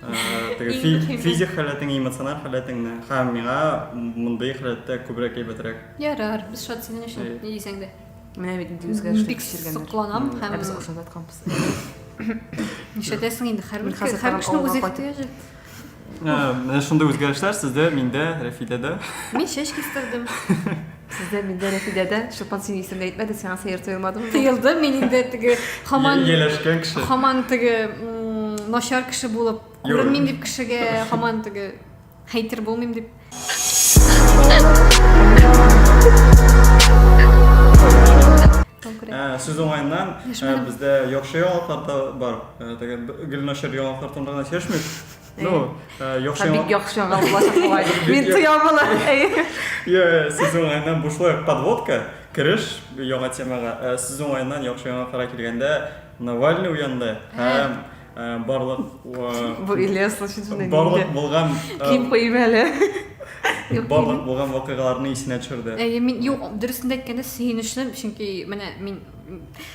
физик халәтең эмоциональ халәтеңне һәм миңа мондый халәттә күбрәк әйбәтрәк ярар без шат синең өчен ни дисәң дә менә бит инде үзгәрешле кичергәннәр сокланам һәм без ошап ятканбыз нишләтәсең инде һәрбер һәр кешенең үз ихтыяҗы менә шундый үзгәрешләр сездә миндә рәфидәдә мин чәч кистердем Сездә миндә Рәфидәдә Чулпан синең исемне әйтмәде, сиңа сәер тоелмадымы? Тыелды, мин инде теге хаман Ияләшкән кеше. хаман теге м, начар кеше булып Юрый. күренмим дип кешегә хаман теге хейтер булмыйм дип. Конкурент. Ә, Сүз уңаеннан, ә, Дәшмәдем. бездә яхшы яңалыклар да бар. Ә, Теге б- гел начар яңалыклар турында гына сөйләшмик. Ну, э, яхшы яңа. Бик яхшы яңа булачак бугай. Мин тоям була. Йо, сез уңайыннан бушлай подводка, кереш яңа темага. Э, сез уңайыннан яхшы яңа кара килгәндә Навальный уянды һәм э, барлык Бу Илья случайно Барлык булган Ким куйым әле. Барлык булган вакыйгаларны исенә төшерде. Әйе, мин юк, дөресен әйткәндә сөенечле, чөнки менә мин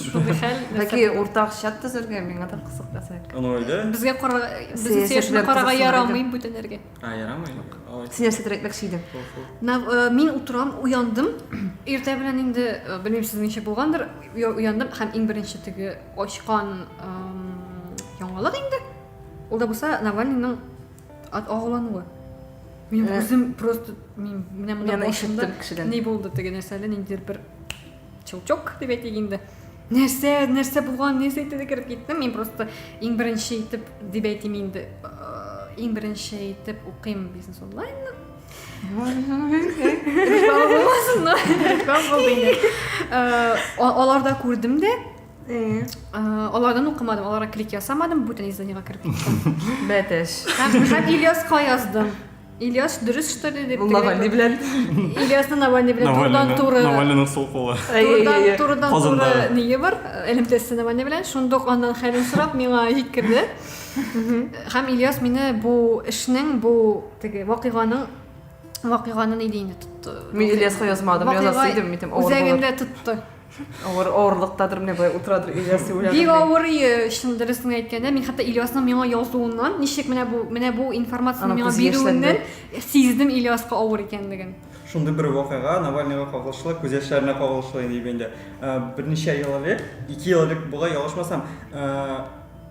Шундый хәл. Ләки уртак чат төзергә миңа да кызык әсәк. Аны әле. Безгә кара безнең сәясәткә карага ярамый бүтәнәргә. А, ярамый. Син нәрсә директор шидем. Мин утырам, уяндым. Иртә белән инде белмим сез ничә булгандыр. Уяндым һәм иң беренче теге очкан яңалык инде. Ул да булса Навальныйның ат агулануы. Мин үзем просто мин менә монда башымда ни булды теге нәрсәле ниндидер бер Чулчок дип әйтик инде. Нәрсә, нәрсә булган, нәрсә әйтте дә кереп киттем. Мин просто иң беренче итеп дип әйтим инде. Иң беренче итеп укыйм бизнес онлайнны. Реклама булмасын, но реклама булды инде. Аларда күрдем дә, алардан укымадым, аларга клик ясамадым, бүтән изданиегә кереп киттем. Бәтәш. Һәм Ильяска яздым. Ильяс дөрес что ли дип Навальный белән. Ильясны Навальный белән турыдан туры. Навальныйның сул кулы. Турыдан турыдан туры ние бар, элемтәсе Навальный белән. Шундук аннан хәлен сорап миңа җиткерде. Һәм Ильяс мине бу эшнең, бу теге вакыйганың вакыйганы ни диде инде тотты. Мин Ильяска язмадым, язасы идем, мин тем авыр. Үзәгендә тотты. Авыр авырлыктадыр менә болай утырадыр Ильяс уйланып. Бик авыр ие, чын дөресен әйткәндә, мин хәтта Ильясның миңа язуыннан, ничек менә бу менә бу информацияне миңа бирүеннән сиздем Ильяска авыр икәнлеген. Шундый бер вакыйга Навальныйга кагылышлы, күз яшьләренә кагылышлы иде бит инде. Берничә ел элек, ике ел элек була, ялгышмасам,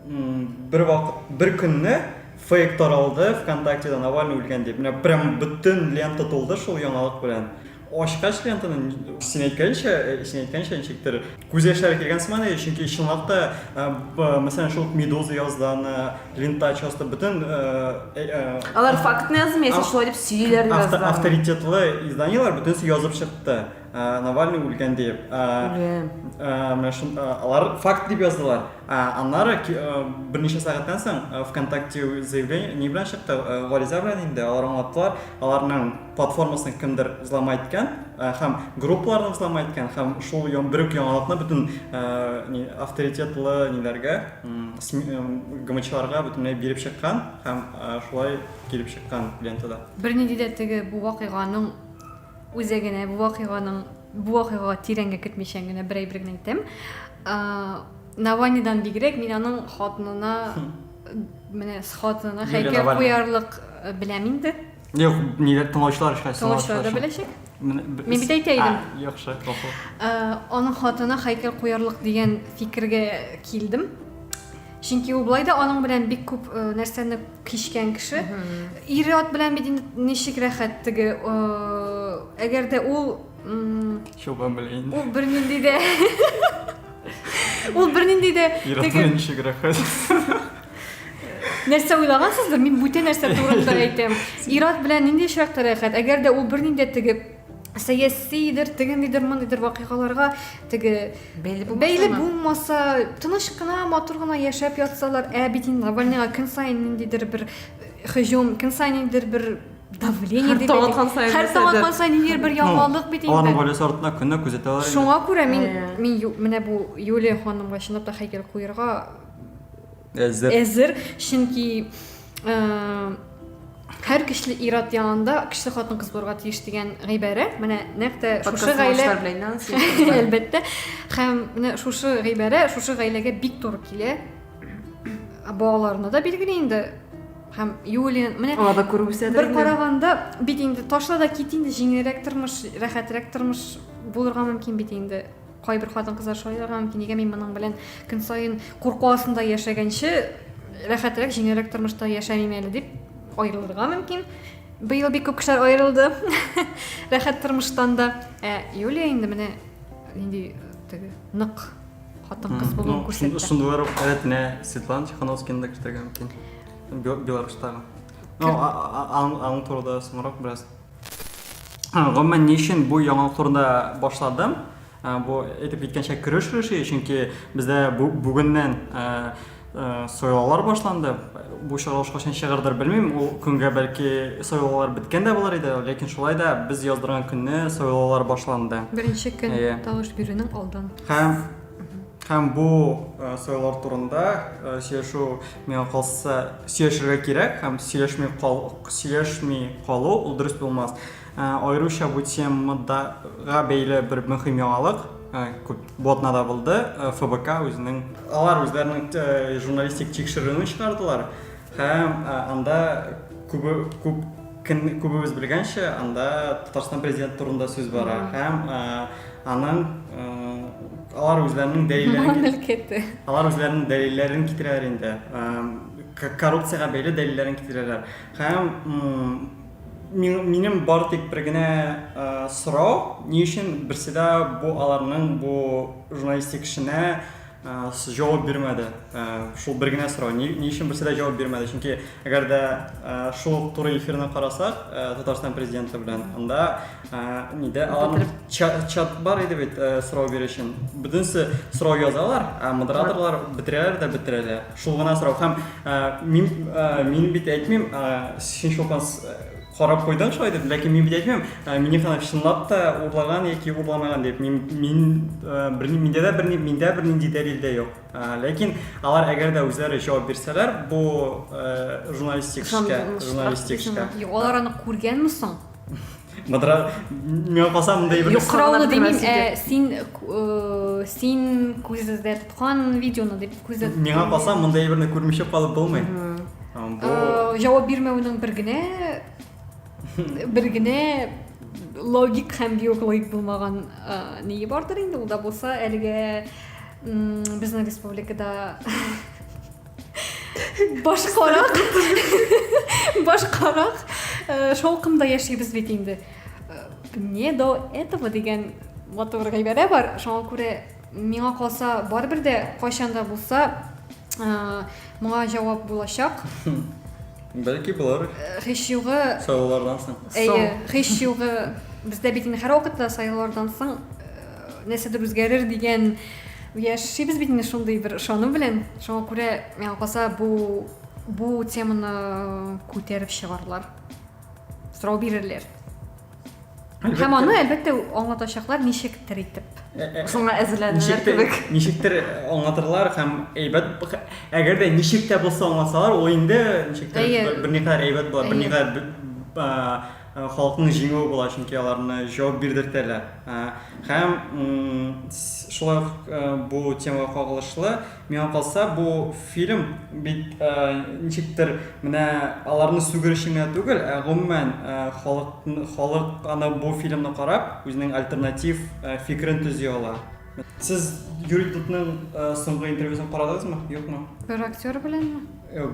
бер вакыт, бер көнне фейк таралды ВКонтактеда Навальный үлгән дип. Менә прям бөтен лента тулды шул яңалык белән. Ачкач лентаны, син әйткәнчә, син әйткәнчә ничектер, күз яшьләре килгән сыман иде, чөнки чынлап та, мәсәлән, шул Медуза яздан, Лента часто бөтен... Алар фактны язмый, яисә шулай дип сөйлиләр яздан. Авторитетлы изданиеләр бөтенесе язып чыкты. Навальный үлгән диеп. Алар факт дип яздылар. Аннары берничә сәгатьтән соң ВКонтакте заявление, ни белән чыкты, гариза белән инде, алар аңлаттылар, аларның платформасын кемдер взломай иткән э, һәм группаларны взломай иткән һәм шул бер үк яңалыкны бөтен э, авторитетлы ниләргә э, гмчларга бөтенләй биреп чыккан һәм шулай килеп чыккан лентада бернинди дә теге бу вакыйганың үзәгенә бу вакыйганың бу вакыйгага тирәнгә кертмичә генә бер әйбер генә әйтәм наванидан бигрәк мин аның хатынына менә хатынына һәйкәл куярлык беләм инде Юк, нидә тыңлаучылар эшләсен. Тыңлаучылар да беләчәк. Мин бит әйтә идем. Яхшы, гафу. Э, аның хатына һәйкәл куярлык дигән фикергә килдем. Чөнки ул былай да аның белән бик күп э, нәрсәне кичкән кеше. Ире ат белән бит ничек рәхәт теге. Э, әгәр дә ул Чубан белән. Ул бернинди дә Ул бернинди дә Ир ат белән ничек рәхәт. Нәрсә уйлагансыздыр, мин бүтән нәрсә турында әйтәм. Ират белән нинди очракта рәхәт, әгәр дә ул бернинди теге сәясидер, тегендидер, мондыйдыр вакыйгаларга теге бәйле булмаса, тыныч кына, матур гына яшәп ятсалар, ә бит инде Навальныйга көн саен ниндидер бер һөҗүм, көн саен ниндидер бер давление дип һәр таң сайын һәр таң аткан сайын ниндидер бер яңалык бит инде аларның гаиләсе артына көнләп күзәтәләр шуңа күрә мин мин менә бу юлия ханымга чынлап та хәйкәл куерга әзер әзер чөнки һәр көчле ир-ат янында көчле хатын-кыз булырга тиеш дигән гыйбарә менә нәкъ тә шушы гаилә әлбәттә һәм менә шушы гыйбарә шушы гаиләгә бик туры килә балаларына да билгеле инде һәм юлия менә алар да күреп үсә бер караганда бит инде ташла да кит инде җиңелрәк тормыш рәхәтрәк тормыш булырга мөмкин бит инде Кайбер хатын-кызлар шулай да мөмкин, нигә мин моның белән көн саен курку астында яшәгәнче рәхәтрәк, җиңелрәк тормышта яшәмим әле дип аерылырга мөмкин. Быел бик күп кешеләр аерылды рәхәт тормыштан да. Ә Юлия инде менә нинди теге нык хатын-кыз булуын күрсәтте. Шундыйлар рәт менә Светлана Тихановскина да кертергә мөмкин. Беларусьтагы. Ну, аның турында соңрак бераз Гомумән, ни өчен бу яңалык турында башладым? Бу әйтеп киткәнчә көрәш рәши, чөнки бездә бүгеннән сайлаулар башланды. Бу чыгарылыш кайчан чыгардыр белмим. Ул көнгә бәлки сайлаулар беткән дә булыр иде, ләкин шулай да без яздырган көнне сайлаулар башланды. Беренче көн тавыш бирүнең алдан. Һәм һәм бу э, сайлар турында э, сөйләшү миңа калса сөйләшергә кирәк һәм сөйләшми кал сөйләшми калу ул дөрес булмас э, аеруча бу темадага бәйле бер мөһим яңалык күп ботнада булды фбк үзенең алар үзләренең журналистик тикшерүен чыгардылар Һәм анда күбе күп күбебез белгәнчә, анда Татарстан президенты турында сүз бара һәм аның алар үзләренең дәлилләрен алар үзләренең дәлилләрен китерәләр инде коррупциягә бәйле дәлилләрен китерәләр һәм минем бар тик бер генә сорау ни өчен берседә бу аларның бу журналистик эшенә Җавап бирмәде. Шул бер генә сорау, ни ни өчен берсе дә җавап бирмәде? Чөнки әгәр дә шул ук туры эфирны карасак, Татарстан президенты белән, анда нидә алар чат бар иде бит сорау бирү өчен. Бөтенесе сорау язалар, ә модераторлар бетерәләр дә бетерәләр. Шул гына сорау. Һәм мин мин бит әйтмим, син шулкан Карап куйдым шулай дип, ләкин мин бит әйтмим, ә, Миннеханов чынлап та урлаган яки урламаган дип. Мин, мин ә, берни, миндә дә берни, миндә бернинди дәлил дә юк. Ә, ләкин алар әгәр дә үзләре җавап бирсәләр, бу ә, журналистик эшкә, Ышанмыйсыңмы? журналистик эшкә. Ышанмыйсыңмы? Юк, алар аны күргәнме соң? Мадра, миңа калса мондай бер Юк, Юкка гына Юкрауны бетермәс димим, ә, иде. син, э, син күздә тоткан видеоны дип күздә Миңа тоткан калса видеоны. мондай берне күрмичә калып булмый. Бу... Э, җавап бирмәүнең бер генә бер генә логик һәм биоклоик булмаган э, ние бардыр инде ул да булса әлегә безнең республикада башкарак башкарак э, шаукымда яшибез бит инде не до этого дигән матур гыйбарә бар шуңа күрә Миңа калса, барыбер дә кайчан да булса моңа җавап булачак. Бәлки булыр. Һич югы. Сайлаулардан соң. Әйе, һич югы. Бездә бит инде һәрвакытта сайлаулардан соң нәрсәдер үзгәрер дигән яшибез бит инде шундый бер ышану белән. Шуңа күрә миңа калса бу бу теманы күтәреп чыгарлар. Сорау бирерләр. Һәм аны әлбәттә аңлатачаклар ничектер итеп. Э, э, Шуңа әзерләнүләр кебек. Ничектер аңлатырлар һәм әйбәт әгәр дә ничек тә булса аңласалар, ул инде ничектер берникадәр әйбәт була, берникадәр халыкның җиңүе була, чөнки аларны җавап бирдертәләр. Һәм шулай ук бу темага кагылышлы Миңа калса, бу фильм бит ничектер менә аларны сүгер өчен генә түгел, ә гомумән халык, халык аны бу фильмны карап, үзенең альтернатив фикерен төзи ала. Сез Юрий Дудның соңгы интервьюсын карадыгызмы, юкмы? Бер актер беләнме?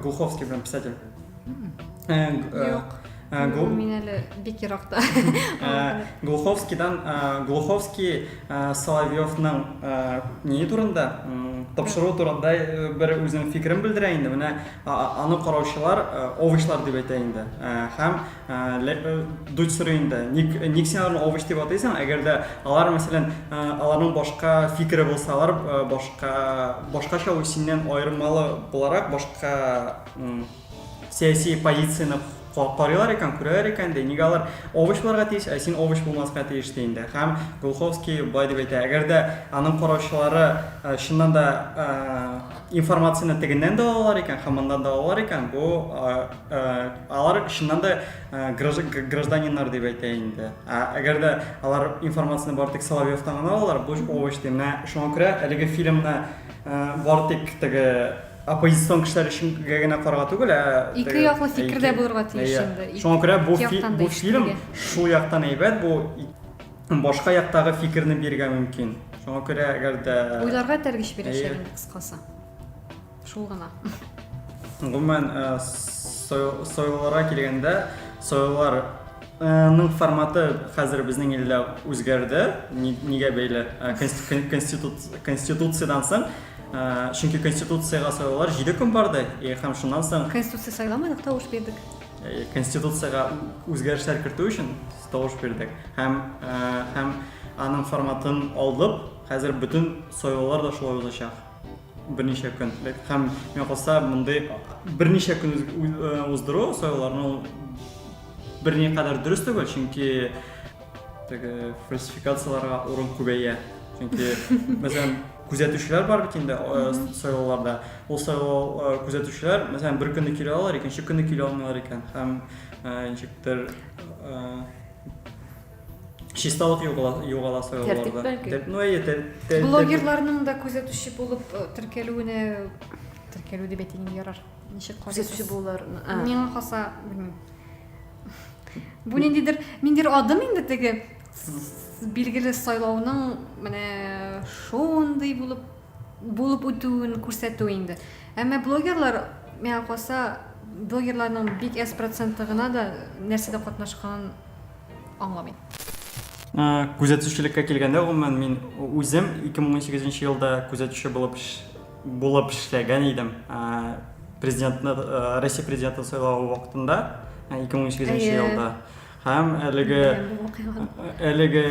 Глуховский белән, писатель. Юк. Э, гол... Мин әле бик еракта. Э, Глуховскийдан э, Глуховский Соловьевның не турында тапшыру турында бер үзенең фикерен белдерә инде. Менә аны караучылар овычлар дип әйтә инде. Һәм дуть сорый инде. Ник ник син аларны овыч дип атыйсың? Әгәр дә алар мәсәлән аларның башка фикере булса, алар башка башкача синнән аермалы буларак башка сәяси позицияне карыйлар икән күрәләр икән дә нигә алар овощ булырга тиеш ә син овощ булмаска тиеш ди инде һәм глуховский былай дип әйтә әгәр дә аның караучылары э, чыннан да э, информацияне тегеннән дә алалар икән һәм моннан да алалар икән бу э, алар чыннан да гражданиннар дип әйтә инде ә әгәр дә алар информацияне бары тик соловьевтан гына алалар бу овощ ди менә шуңа күрә әлеге фильмны бары тик теге оппозицион кешеләр өчен генә карарга түгел, ә ике яклы фикер дә булырга тиеш инде. Шуңа күрә бу бу фильм шул яктан әйбәт, бу башка яктагы фикерне бирергә мөмкин. Шуңа күрә әгәр дә уйларга тәргеш бирәчәк инде кыскасы. Шул гына. Гомумән, э, сойларга килгәндә, сойлар ның форматы хәзер безнең илдә үзгәрде. Нигә бәйле? Конституциядан соң Чөнки Конституциягә сайлаулар җиде көн барды, һәм шуннан соң... Конституция сайламадык, тавыш бирдек. Конституциягә үзгәрешләр кертү өчен тавыш бирдек. Һәм, һәм аның форматын алдып, хәзер бөтен сайлаулар да шулай узачак. Берничә көн. Һәм миңа калса, мондый берничә көн уздыру сайлауларны берникадәр дөрес түгел, чөнки... теге фальсификацияларга урын күбәя чөнки мәсәлән күзәтүчеләр бар бит инде э, сайлауларда ул сайлау э, күзәтүчеләр мәсәлән бер көнне килә алар икенче көнне килә алмыйлар икән һәм э, ничектер чисталык югала сайлауларда ну әйе блогерларның да күзәтүче булып теркәлүенә теркәлү дип әйтең ярар ничек күзәтүче булулар миңа калса белмим Бу ниндидер, ниндидер адым инде теге билгеле сайлауның менә шундый булып булып үтүен күрсәтү инде. Әмма блогерлар миңа калса блогерларның бик әз проценты гына да нәрсәдә катнашканын аңламый. Күзәтүчелеккә килгәндә, гомумән, мин үзем 2018 елда күзәтүче булып Булып эшләгән идем. Президентны, Россия президентын сайлавы вакытында, 2008 елда. Һәм әлеге әлеге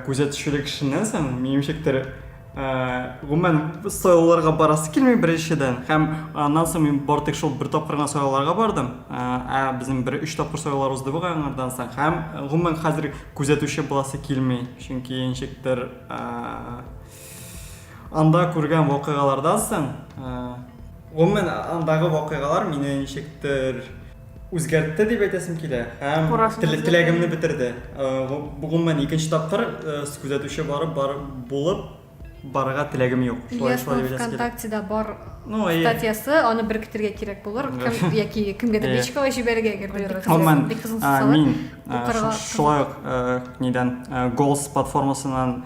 күзәтүчелек эшеннән соң, минемчектер, гомумән сайлауларга барасы килми беренчедән. Һәм аннан соң мин бар тик шул бер тапкыр гына сайлауларга бардым. Ә безнең бер өч тапкыр сайлаулар узды бу аңардан соң. Һәм гомумән хәзер күзәтүче буласы килми, чөнки ничектер Анда күргән вакыйгалардан соң, гомумән андагы вакыйгалар мине ничектер үзгәртте дип әйтәсем килә һәм теләгемне бетерде. Гомумән икенче тапкыр күзәтүче барып барып булып барырга теләгем юк. Ильясның ВКонтактеда бар статьясы, аны беркетергә кирәк булыр. Кем яки кемгәдер личкага җибәрергә әгәр дә бик кызыгыз салып. Мин шулай ук нидән Голс платформасыннан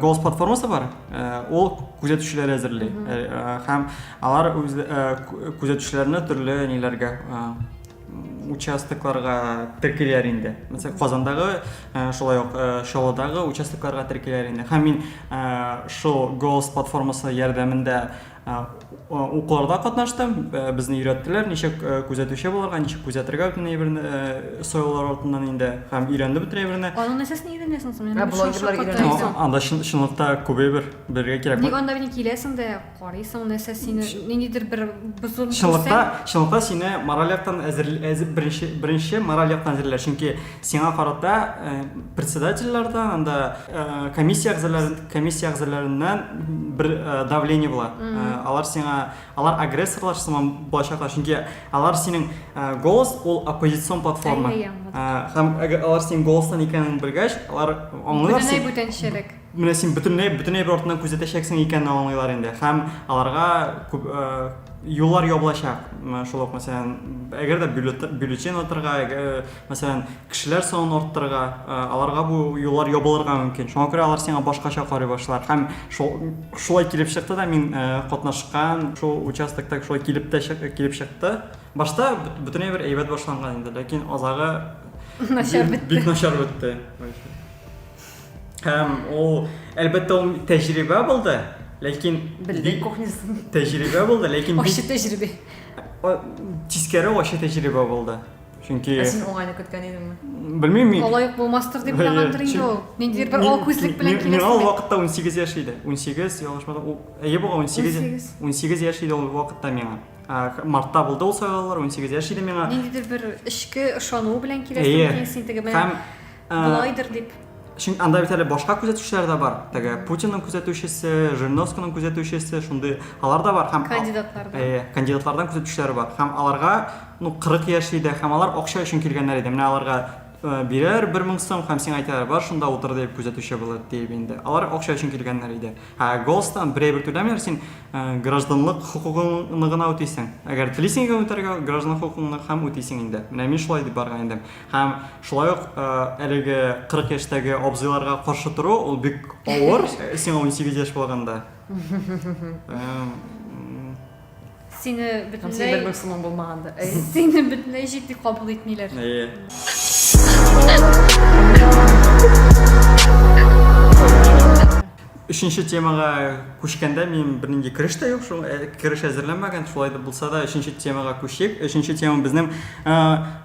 голос платформасы бар ол күзәтүчеләр әзерли һәм алар үз күзәтүчеләрне төрле ниләргә участокларга теркиләр инде мәсәлән казандагы шулай ук чаллыдагы участокларга теркиләр инде һәм мин шул голос платформасы ярдәмендә Укуларда катнаштым, безне өйрәттеләр, ничек күзәтүче булырга, ничек күзәтергә бөтен әйберне, союлар артыннан инде, һәм өйрәндем бөтен әйберне. Аннан нәрсә син өйрәнәсең соң? Ә блогерлар өйрәнәсең. Анда чынлыкта күп әйбер белергә кирәк. Ник анда бит киләсең дә, карыйсың, нәрсә сине, ниндидер бер бозылу күрсәң. Чынлыкта, чынлыкта сине мораль яктан әзер, әзер беренче, беренче мораль яктан әзерлиләр, чөнки сиңа карата председательләрдән, анда комиссия әгъзалары. комиссия әгъзаларыннан бер давление була. Алар сиңа, алар агрессорлар сыман булачаклар, чөнки алар синең голос ул оппозицион платформа. Һәм алар синең голостан икәнен белгәч, алар аңлыйлар син. Бүтәнәй бүтәнчелек. Менә син бүтәнәй бүтәнәй бер артыннан күзәтәчәксең икәнен аңлыйлар инде. Һәм аларга күп юллар ябылачак. Шул ук мәсәлән, әгәр дә бюллетень атырга, мәсәлән, Кешеләр санын арттырырга, аларга бу юллар ябылырга мөмкин. Шуңа күрә алар сиңа башкача карый башлар. Һәм шул, шулай килеп чыкты да, мин катнашкан шул участокта шулай килеп тә килеп чыкты. Башта бөтенләй бер әйбәт башланган инде, ләкин азагы начар бетте. Бик начар бетте. Һәм ул, әлбәттә, ул тәҗрибә булды, ләкин белдек кухнясын. Тәҗрибә булды, ләкин ачы тәҗрибә. Тискәре ачы тәҗрибә булды. Чөнки Ә син уңайны көткән идеңме? Белмим мин. Алай ук булмастыр дип уйлагандыр инде ул. Ниндидер бер ак күзлек белән киләсе. Миңа ул вакытта 18 яшь иде. 18, ялгышмасам, ул әйе буга 18. 18 яшь иде ул вакытта миңа. Мартта булды ул сайлаулар, 18 яшь иде миңа. Ниндидер бер эчке ышану белән киләсе икән син теге белән. Болайдыр дип. Чөнки анда бит әле башка күзәтүчеләр дә бар. Теге Путинның күзәтүчесе, Жириновскийның күзәтүчесе, шундый алар да бар һәм кандидатлардан. Э, кандидатлардан күзәтүчеләр бар. Һәм аларга, ну, 40 яшь иде, һәм алар акча өчен килгәннәр иде. Менә аларга э, бирәр 1000 сум һәм сиңа әйтәләр, бар шунда утыр дип күзәтүче булып дип инде. Алар акча өчен килгәннәр иде. Ә Голстан берәй бер түләмиләр, син э, гражданлык хокукыңны гына үтисең. Әгәр телисең икән үтәргә, гражданлык хокукыңны һәм үтисең инде. Менә мин шулай дип барган идем. Һәм шулай ук әлеге 40 яшьтәге абзыйларга каршы тору, ул бик авыр, сиңа 18 яшь булганда. Сине бөтенләй бер максимум булмаганда. Сине бөтенләй җитди кабул итмиләр. Әйе. Өченче темага күчкәндә минем бернинди кереш тә юк, шул э, кереш әзерләмәгән, шулай да булса да өченче темага күчик. Өченче тема безнең э,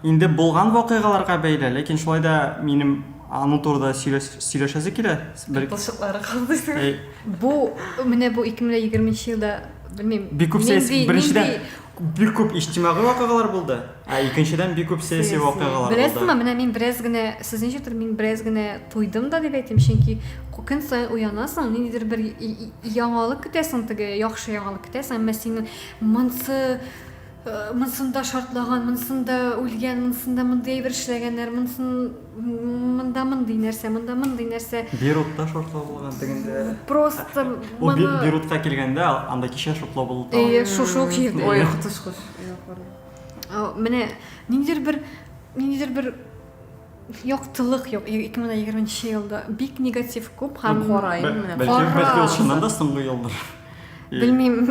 инде булган вакыйгаларга бәйле, ләкин шулай да минем аның турында сөйләшәсе килә. Бер кылчыклары калмыйсың. Э, бу менә бу 2020 елда белмим. Бик күп сәясәт беренчедән бик күп иҗтимагый вакыйгалар булды ә икенчедән бик күп сәяси вакыйгалар булды беләсеңме менә мин бераз генә сез ничектер мин бераз генә туйдым да дип әйтим чөнки көн саен уянасың ниндидер бер яңалык көтәсең теге яхшы яңалык көтәсең әмма синең монсы э, монсында шартлаган монсында үлгән монсында мондый әйбер эшләгәннәр монсын монда мондый нәрсә, монда мондый нәрсә. Бирутта шортлау булган тегендә. Просто Ул би- моны Бирутка килгәндә анда кичә шортлау булды. тагын. Әйе, шушы ук җирдә. Ой, котыш кош. А, Менә ниндидер бер ниндидер бер яктылык юк 2020 елда. Бик негатив күп һәм Кара, Бә- именно. Бәлки Кара. бәлки ул чыннан да соңгы елдыр. Белмим,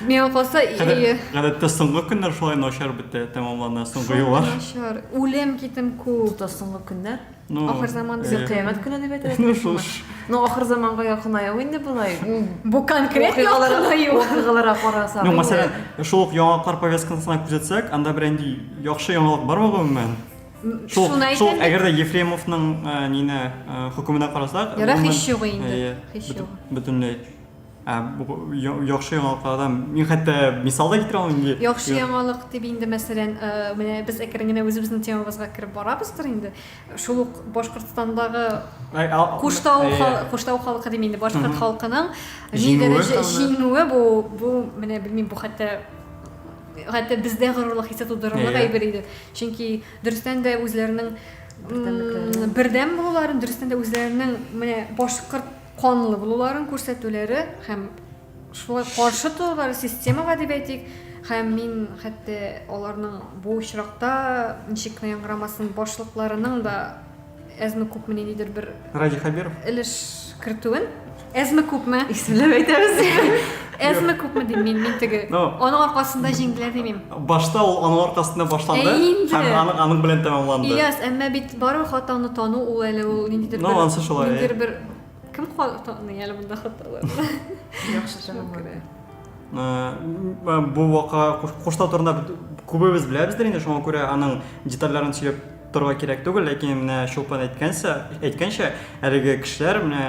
миңа калса, гадәттә соңгы көннәр шулай начар бетә, тәмамлана соңгы еллар. Начар, үлем китем күп. Тота соңгы көннәр. Ну, ахыр заман дип кыямәт көне дип әйтәләр. Ну, шул. Ну, ахыр заманга якынаю инде болай. Бу конкрет якынаю. Вакыйгаларга карасак. Ну, мәсәлән, шул ук яңалыклар повесткасына күзәтсәк, анда бер инде яхшы яңалык бармы гомумән? Шул, шул, әгәр дә Ефремовның э, нине э, хөкеменә карасак, Ярак һич юк инде. Һич юк. Бөтенләй. Ә, бу я- яхшы яңалыклардан мин хәтта мисал да китерә алмыйм инде. Яхшы яңалык дип инде, мәсәлән, э, менә без әкрен генә үзебезнең темабызга кереп барабыздыр инде. Шул ук Башкортстандагы Ә, а- Куштау, әйе. хал- Куштау халкы дим инде, башкорт Мгм. халкының ни Җиңүе дәрәҗә хәлле. җиңүе бу, бу менә белмим, бу хәтта хәтта бездә горурлык хисе тудырырлык Әйе. әйбер иде. Чөнки дөрестән дә үзләренең м, Бердәмлекләрен. бердәм булуларын, дөрестән дә үзләренең менә башкорт канлы булуларын күрсәтүләре һәм шулай каршы торулары системага дип әйтик һәм мин хәтта аларның бу очракта ничек кенә яңгырамасын башлыкларының да әзме күпме ниндидер бер радий хәбиров өлеш кертүен әзме күпме исемләп әйтәбез Әзме күпме дим мин, мин теге. Ну. Аның аркасында җиңделәр димим. Башта ул аның аркасында башланды Ә инде. һәм аның, аның белән тәмамланды. Ильяс, әмма бит барыбер хатаны тану ул әле ул ниндидер Ну, ансы шулай, ә. ниндидер бер кем хатаны әле монда хаталар. Яхшы чыгымлы. Э, м, Бу вака Куш- Куштау турында бит күбебез беләбездер инде, шуңа күрә аның детальләрен сөйләп Торырга кирәк түгел, ләкин менә Чулпан әйткәнчә, әйткәнчә, әлеге кешеләр менә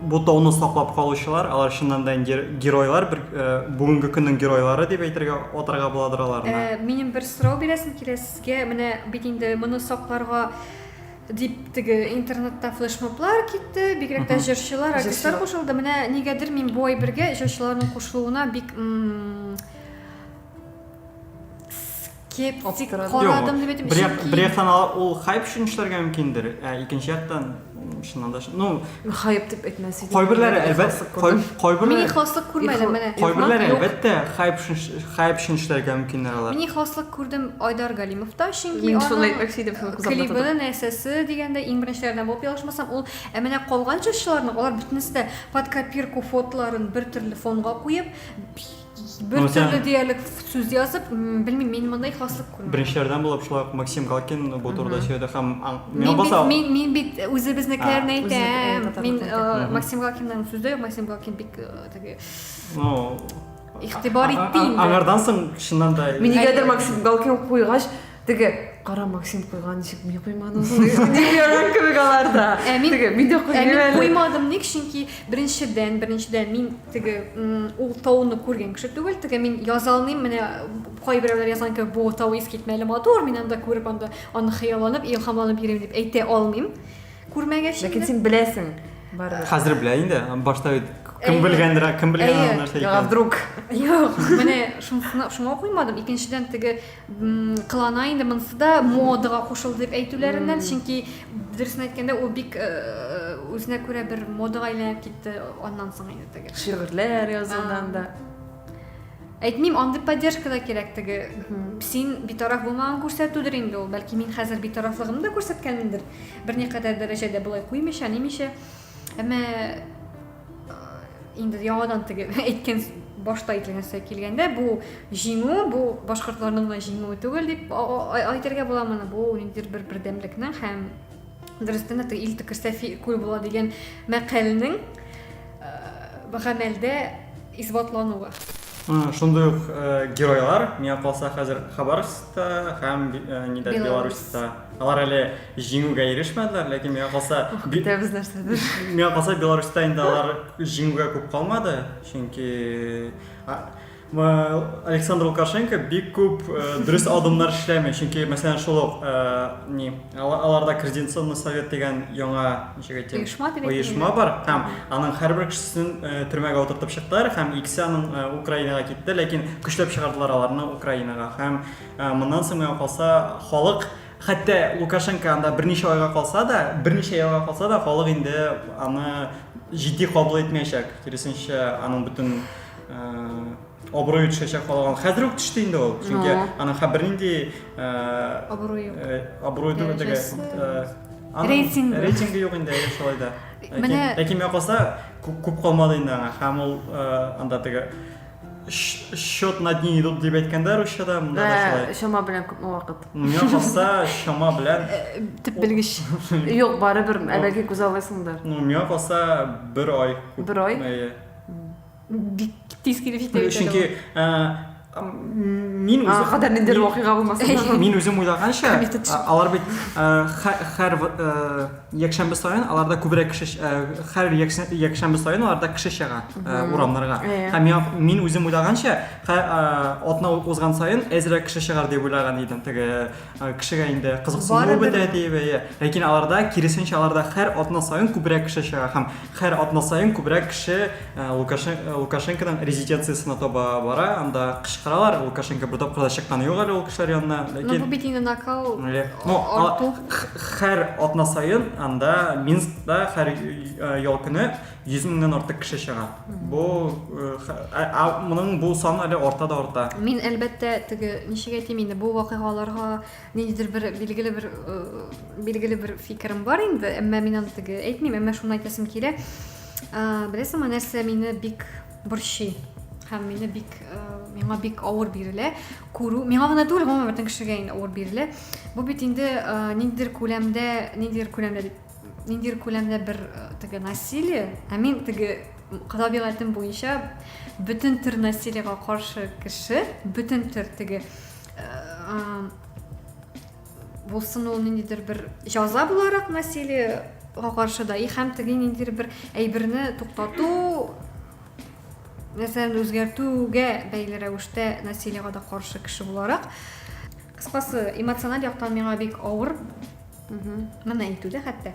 бу тауны саклап калучылар, алар чыннан да инде геройлар, бер э, бүгенге көннең геройлары дип әйтергә атарга буладыр аларны. Э, минем бер сорау бирәсем килә сезгә. Менә бит инде моны сакларга дип теге интернетта флешмоблар китте, бигрәк тә җырчылар, артистлар кушылды. Менә нигәдер мин бу әйбергә җырчыларның кушылуына бик кеп Ап- тик карадым. карадым дип әйтеп бер, як, чөнки- бер яктан ал- ул хайп өчен эшләргә мөмкиндер, ә икенче яктан м, чыннан да ш- ну Хайп дип әйтмәс идем. кайберләре Мин әлбәт ихласлык кай- күрдем. Мин кайберләре ихласлык күрмәдем, Ихла- менә. кайберләре Юк. әлбәттә хайп өчен ш- хайп өчен эшләргә мөмкиннәр алар. Мин ихласлык күрдем Айдар Галимовта, чөнки Мин шуны аның әйтмәкче идем, шуны күзәтеп клибы, тотып. нәрсәсе дигәндә иң беренчеләрдән булып ялгышмасам, ул ә менә калган җырчыларның алар бөтенесе дә под копирку фотоларын бер төрле фонга куеп, бер Мә, сән- төрле диярлек сүз язып, м, белмим, мин мондай хаслык күрмәдем. Беренчеләрдән булып шулай ук Максим Галкин бу турыда сөйләде һәм аң- Мин миңа бит, баса мин, мин бит үзебезнекеләрне А. әйтәм. Үзебезнеке, Мин татарларны э, әйтәм. Максим Галкинның сүзе юк, Максим Галкин бик э, теге, ну, игътибар а- а- итте инде. Аңардан соң чыннан да Мин нигәдер Максим Галкин куйгач, Теге кара Максим куйган ничек мин куймадым дигән кебек аларда. Ә мин теге мин дә куймадым. Ә мин куймадым ник? Чөнки беренчедән, беренчедән мин теге ул тауны күргән кеше түгел. Теге мин яза алмыйм. Менә кайберәүләр язган кебек бу тау искитмәле матур. Мин анда күреп анда аны хыялланып, илһамланып йөрим дип әйтә алмыйм. Күрмәгәч. Ләкин син беләсең. Хәзер белә инде. Башта бит кем белгәндер кем белгән нәрсә икән вдруг юк менә шуңа куймадым икенчедән теге Кылана инде монысы да модага кушылды дип әйтүләреннән, чөнки дөресен әйткәндә ул бик үзенә күрә бер модага әйләнеп китте аннан соң инде теге. Шигырьләр язудан да. Әйтмим, андый поддержка да кирәк теге. Син битараф булмаган күрсәтүдер инде ул. Бәлки мин хәзер битарафлыгымны да күрсәткәнмендер. Берникадәр дәрәҗәдә болай куймыйча, нимичә. әмма инде яңадан теге әйткән башта әйтелгән нәрсә килгәндә бу җиңү бу башкортларның гына җиңүе түгел дип әйтергә була моны бу ниндидер бер бердәмлекнең һәм дөрестән дә ил төкерсә күл була дигән мәкальнең гамәлдә исбатлануы шундый ук геройлар миңа калса хәзер хабаровскта һәм нидә беларуста алар әле Җиңүгә ирешмәделәр, ләкин миңа калса, Ух, көтәбез нәрсәдер. Миңа калса, Беларусьта инде алар җиңүгә күп калмады, чөнки Александр Лукашенко бик күп э, дөрес адымнар эшләми, чөнки мәсәлән шул ук э, ни аларда координационный совет дигән яңа ничек әйтим оешма дип оешма бар һәм аның һәрбер кешесен э, төрмәгә утыртып чыктылар һәм икесе аның Украинага китте, ләкин көчләп чыгардылар аларны Украинага һәм моннан соң миңа калса халык Хәтта Лукашенко анда берничә айга калса да, берничә елга калса да, халык инде аны җитди кабул итмәячәк. Киресенчә, аның бөтен э, абруе төшәчәк халык. Хәзер үк төште инде ул. Чөнки аның һәм бернинди э, абруе юк. Э, абруе түгел теге. Э, рейтинг. Рейтинг юк инде шулай да. Менә ләкин миңа калса күп калмады инде аңа. Һәм ул анда теге счет на дни идут дип әйткәндә русчада монда да шулай чама белән күпме вакыт миңа калса чама белән төп белгеч юк барыбер әлеге күз алласыңдыр ну миңа калса бер ай бер ай бик тиз килеп җитә чөнки мин үзем кадәр ниндидер вакыйга булмаса мин үзем уйлаганча алар бит һәр Якшәмбе саен аларда күбрәк кеше хәр якшәмбе саен аларда кеше чыга урамнарга. Һәм я мин үзем уйлаганча, атна узган саен әзрәк кеше чыгар дип уйлаган идем. Теге кешегә инде кызыксыну бетә диеп. Ләкин аларда киресенчә, аларда хәр атна саен күбрәк кеше чыга һәм Һәр атна саен күбрәк кеше Лукашенконың резиденциясенә таба бара, анда кычкыралар, Лукашенко бу тапкыр да чыкканы юк әле ул кешеләр янына, ләкин... Ну, бу бит инде накал, арту. Һәр атна саен анда Минскта һәр ял көне 100 меңнән артык кеше чыга. Бу, моның бу сан әле арта да арта. Мин, әлбәттә, теге, ничек әйтим инде, бу вакыйгаларга... Ниндидер бер билгеле бер э, билгеле бер фикерем бар инде, әмма мин аны теге әйтмим, әмма шуны әйтәсем килә. Э, Беләсеңме, нәрсә мине бик борчый? Һәм мине бик э, миңа бик авыр бирелә. Күрү, миңа гына түгел, гомумән бөтен кешегә инде авыр бирелә. Бу бит инде э, ниндидер күләмдә, ниндидер күләмдә дип ниндидер күләмдә бер э, теге насилие, ә мин теге табигатем буенча бөтен төр насилиега каршы кеше, бөтен төр теге булсын ул ниндидер бер җаза буларак насилие каршы да и һәм теге ниндидер бер әйберне туктату нәрсәне үзгәртүгә бәйле рәвештә насилиега да каршы кеше буларак кыскасы эмоциональ яктан миңа бик авыр моны әйтү дә хәтта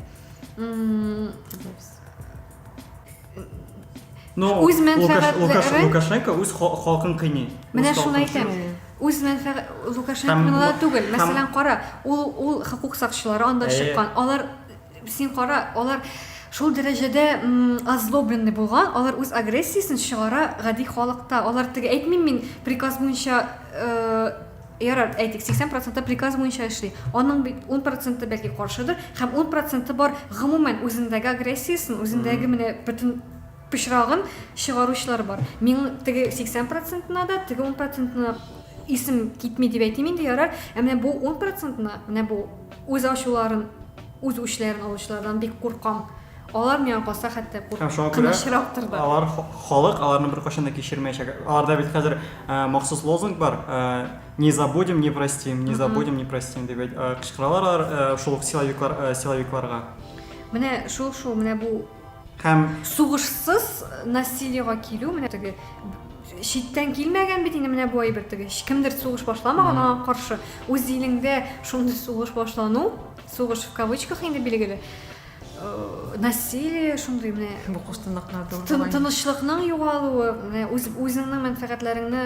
Ну, үз мәнфәгатьләре... Лукаш, Лукаш, Лукашенко үз халкын кыйный. Менә шуны әйтәм. Үз мәнфәгать... Лукашенко түгел. Мәсәлән, кара, ул, ул хокук сакчылары анда э. чыккан. Алар, син кара, алар шул дәрәҗәдә озлобленный булган, алар үз агрессиясен чыгара гади халыкта. Алар теге әйтмим мин приказ буенча э, Ярар, әйтик, 80 проценты приказ буенча эшли. Аның бит 10 проценты бәлки каршыдыр, һәм 10 проценты бар гомумән үзендәге агрессиясен, үзендәге менә бөтен пычрагын чыгаручылар бар. Мин теге 80 процентына да, теге 10 процентына исем китми дип әйтим инде, ярар. Ә менә бу 10 процентына, менә бу үз ачуларын, үз үчләрен алучылардан бик куркам. Алар миңа калса хәтта куркынычрактыр да. Алар халык, аларны беркайчан да кичермәячәк. Аларда бит хәзер махсус лозунг бар, не забудем, не простим, не забудем, не простим дип кычкыралар алар шул ук силовиклар, силовикларга. Менә шул шул, менә бу һәм сугышсыз насилиега килү, менә теге читтән килмәгән бит инде менә бу әйбер теге кемдер сугыш башламаган аңа каршы үз илеңдә шундый сугыш башлану сугыш в кавычках инде билгеле насилие шундый менә бу кушсынлыкларда тынычлыкның югалуы менә үз үзеңнең мәнфәгатьләреңне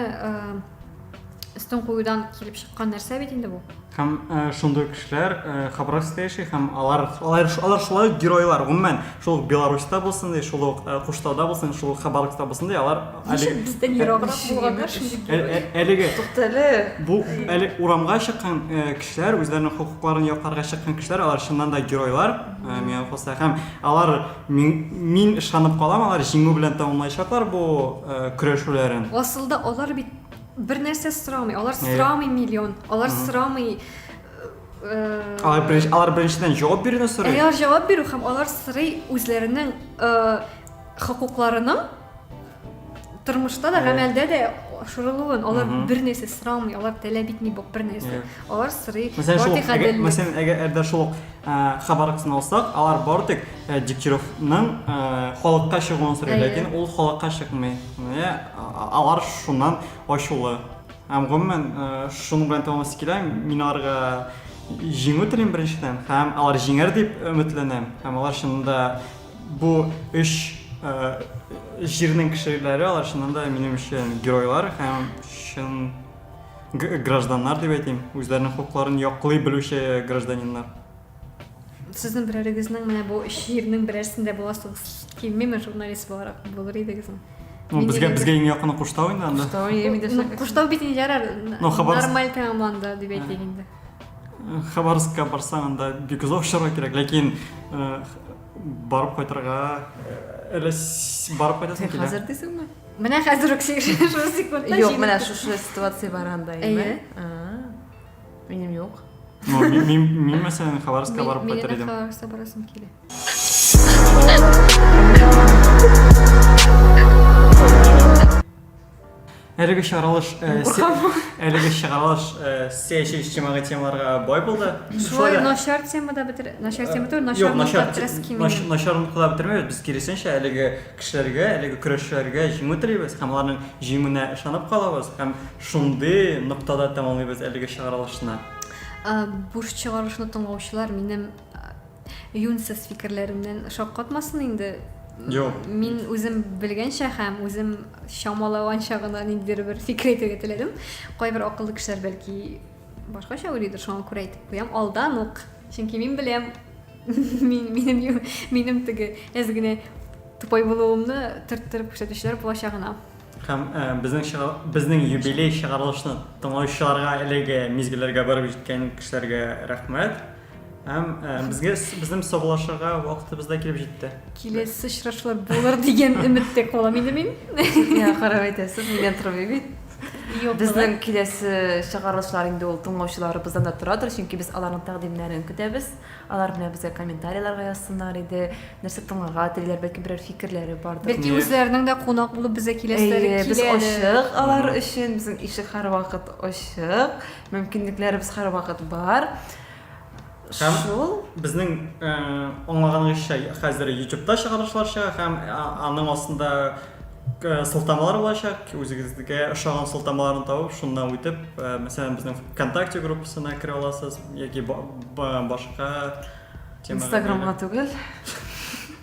өстен куюдан килеп чыккан нәрсә бит инде бу һәм шундый кешеләр хабаровскта яши һәм алар алар алар шулай геройлар гомумән шул беларусьта булсын ди шул ук куштауда булсын шул ук хабаровскта булсын ди алар Әлеге бездән ераграк булганнар шундый. Ә- ә- Әлеге Туктале. бу әле урамга чыккан э, кешеләр, үзләренең хокукларын якларга чыккан кешеләр, алар чыннан да геройлар, э, миңа калса. Һәм алар мин, мин ышанып калам, алар җиңү белән тәмамлаячаклар бу э, көрәшүләрен. Асылда алар бит бер нәрсә сорамый. Алар Әйе. сорамый миллион. Алар сорамый э, Алар беренче, алар беренчедән җавап бирүне сорый. Алар җавап бирү һәм алар сорый үзләренең э, хокукларының тормышта да гамәлдә дә шырылуын алар бер нәрсә сорамый алар таләп итми бу бер нәрсә алар сорый мәсәлән әгәр әгәр шул хабар кысына алсак алар бары тик дегтяревның халыкка чыгуын сорый ләкин ул халыкка чыкмый алар шуннан ачулы һәм гомумән шуның белән тәмамласын килә мин аларга җиңү телим беренчедән һәм алар җиңәр дип өметләнәм һәм алар чынында Бу өч җирнең кешеләре, алар чыннан да минем өчен геройлар һәм чын гражданнар дип әйтим, үзләренең хокукларын яклый белүче гражданиннар. Сезнең берәрегезнең менә бу өч җирнең берәрсендә буласыгыз килмиме журналист буларак булыр идегезме? Ну, безгә безгә иң якыны Куштау инде анда. Куштау, Куштау бит инде ярар. Нормаль тәмамланды дип әйтик инде. Хабаровскка барсаң, анда бик озак очарга кирәк, ләкин барып кайтырга әле барып кайтасың килә. Хәзер дисеңме? Менә хәзер үк шушы секундта. Юк, менә шушы ситуация бар анда инде. Минем юк. Мин мәсәлән Хабаровскка барып кайтыр идем. Мин Хабаровскка барасым килә. Әлеге чыгарылыш әлеге чыгарылыш сәяси иҗтимагый темаларга бай булды. Шулай начар темада бетер, начар тема түгел, начар начар начар начар нокта бетермәбез. Без киресенчә әлеге кешеләргә, әлеге көрәшчеләргә җиңү телибез һәм аларның җиңүенә ышанып калабыз һәм шундый ноктада тәмамлыйбыз әлеге чыгарылышны. Буш чыгарылышны тыңлаучылар минем Юньсез фикерләремнән шаккатмасын инде. Юк. Мин үзем белгәнчә һәм үзем чамалаванча гына ниндидер бер фикер әйтергә теләдем. Кайбер акыллы кешеләр бәлки башкача уйлыйдыр, шуңа күрә әйтеп куям. Алдан ук. Чөнки мин беләм, мин минем минем теге әз генә тупой булуымны төрттереп күрсәтүчеләр булачагына. Һәм э, безнең безнең юбилей чыгарылышны тыңлаучыларга әлеге мизгелләргә барып җиткән кешеләргә рәхмәт. Һәм э, безгә безнең саулашырга вакытыбыз да килеп җитте. Киләсе очрашулар булыр дигән өметтә калам инде мин. Миңа карап әйтәсез, миңа тормый бит. Юк. Безнең киләсе чыгарылышлар инде ул тыңлаучыларыбыздан да торадыр, чөнки без аларның тәкъдимнәрен көтәбез. Алар белән безгә комментарийларга язсыннар иде, нәрсә тыңларга телиләр, бәлки берәр фикерләре бардыр. Бәлки үзләренең дә кунак булып безгә киләселәре киләдер. Без ачык алар өчен, безнең ишек һәрвакыт ачык. Мөмкинлекләребез һәрвакыт бар. Һәм Шул. безнең э, аңлаганыбызча хәзер ютубта чыгарышлар чыга һәм а- аның астында э, сылтамалар булачак. Үзегезгә ошаган сылтамаларны табып, шуннан үтеп, э, мәсәлән, безнең ВКонтакте группасына керә аласыз яки ба- ба- башка темага Инстаграмга бәйле. түгел.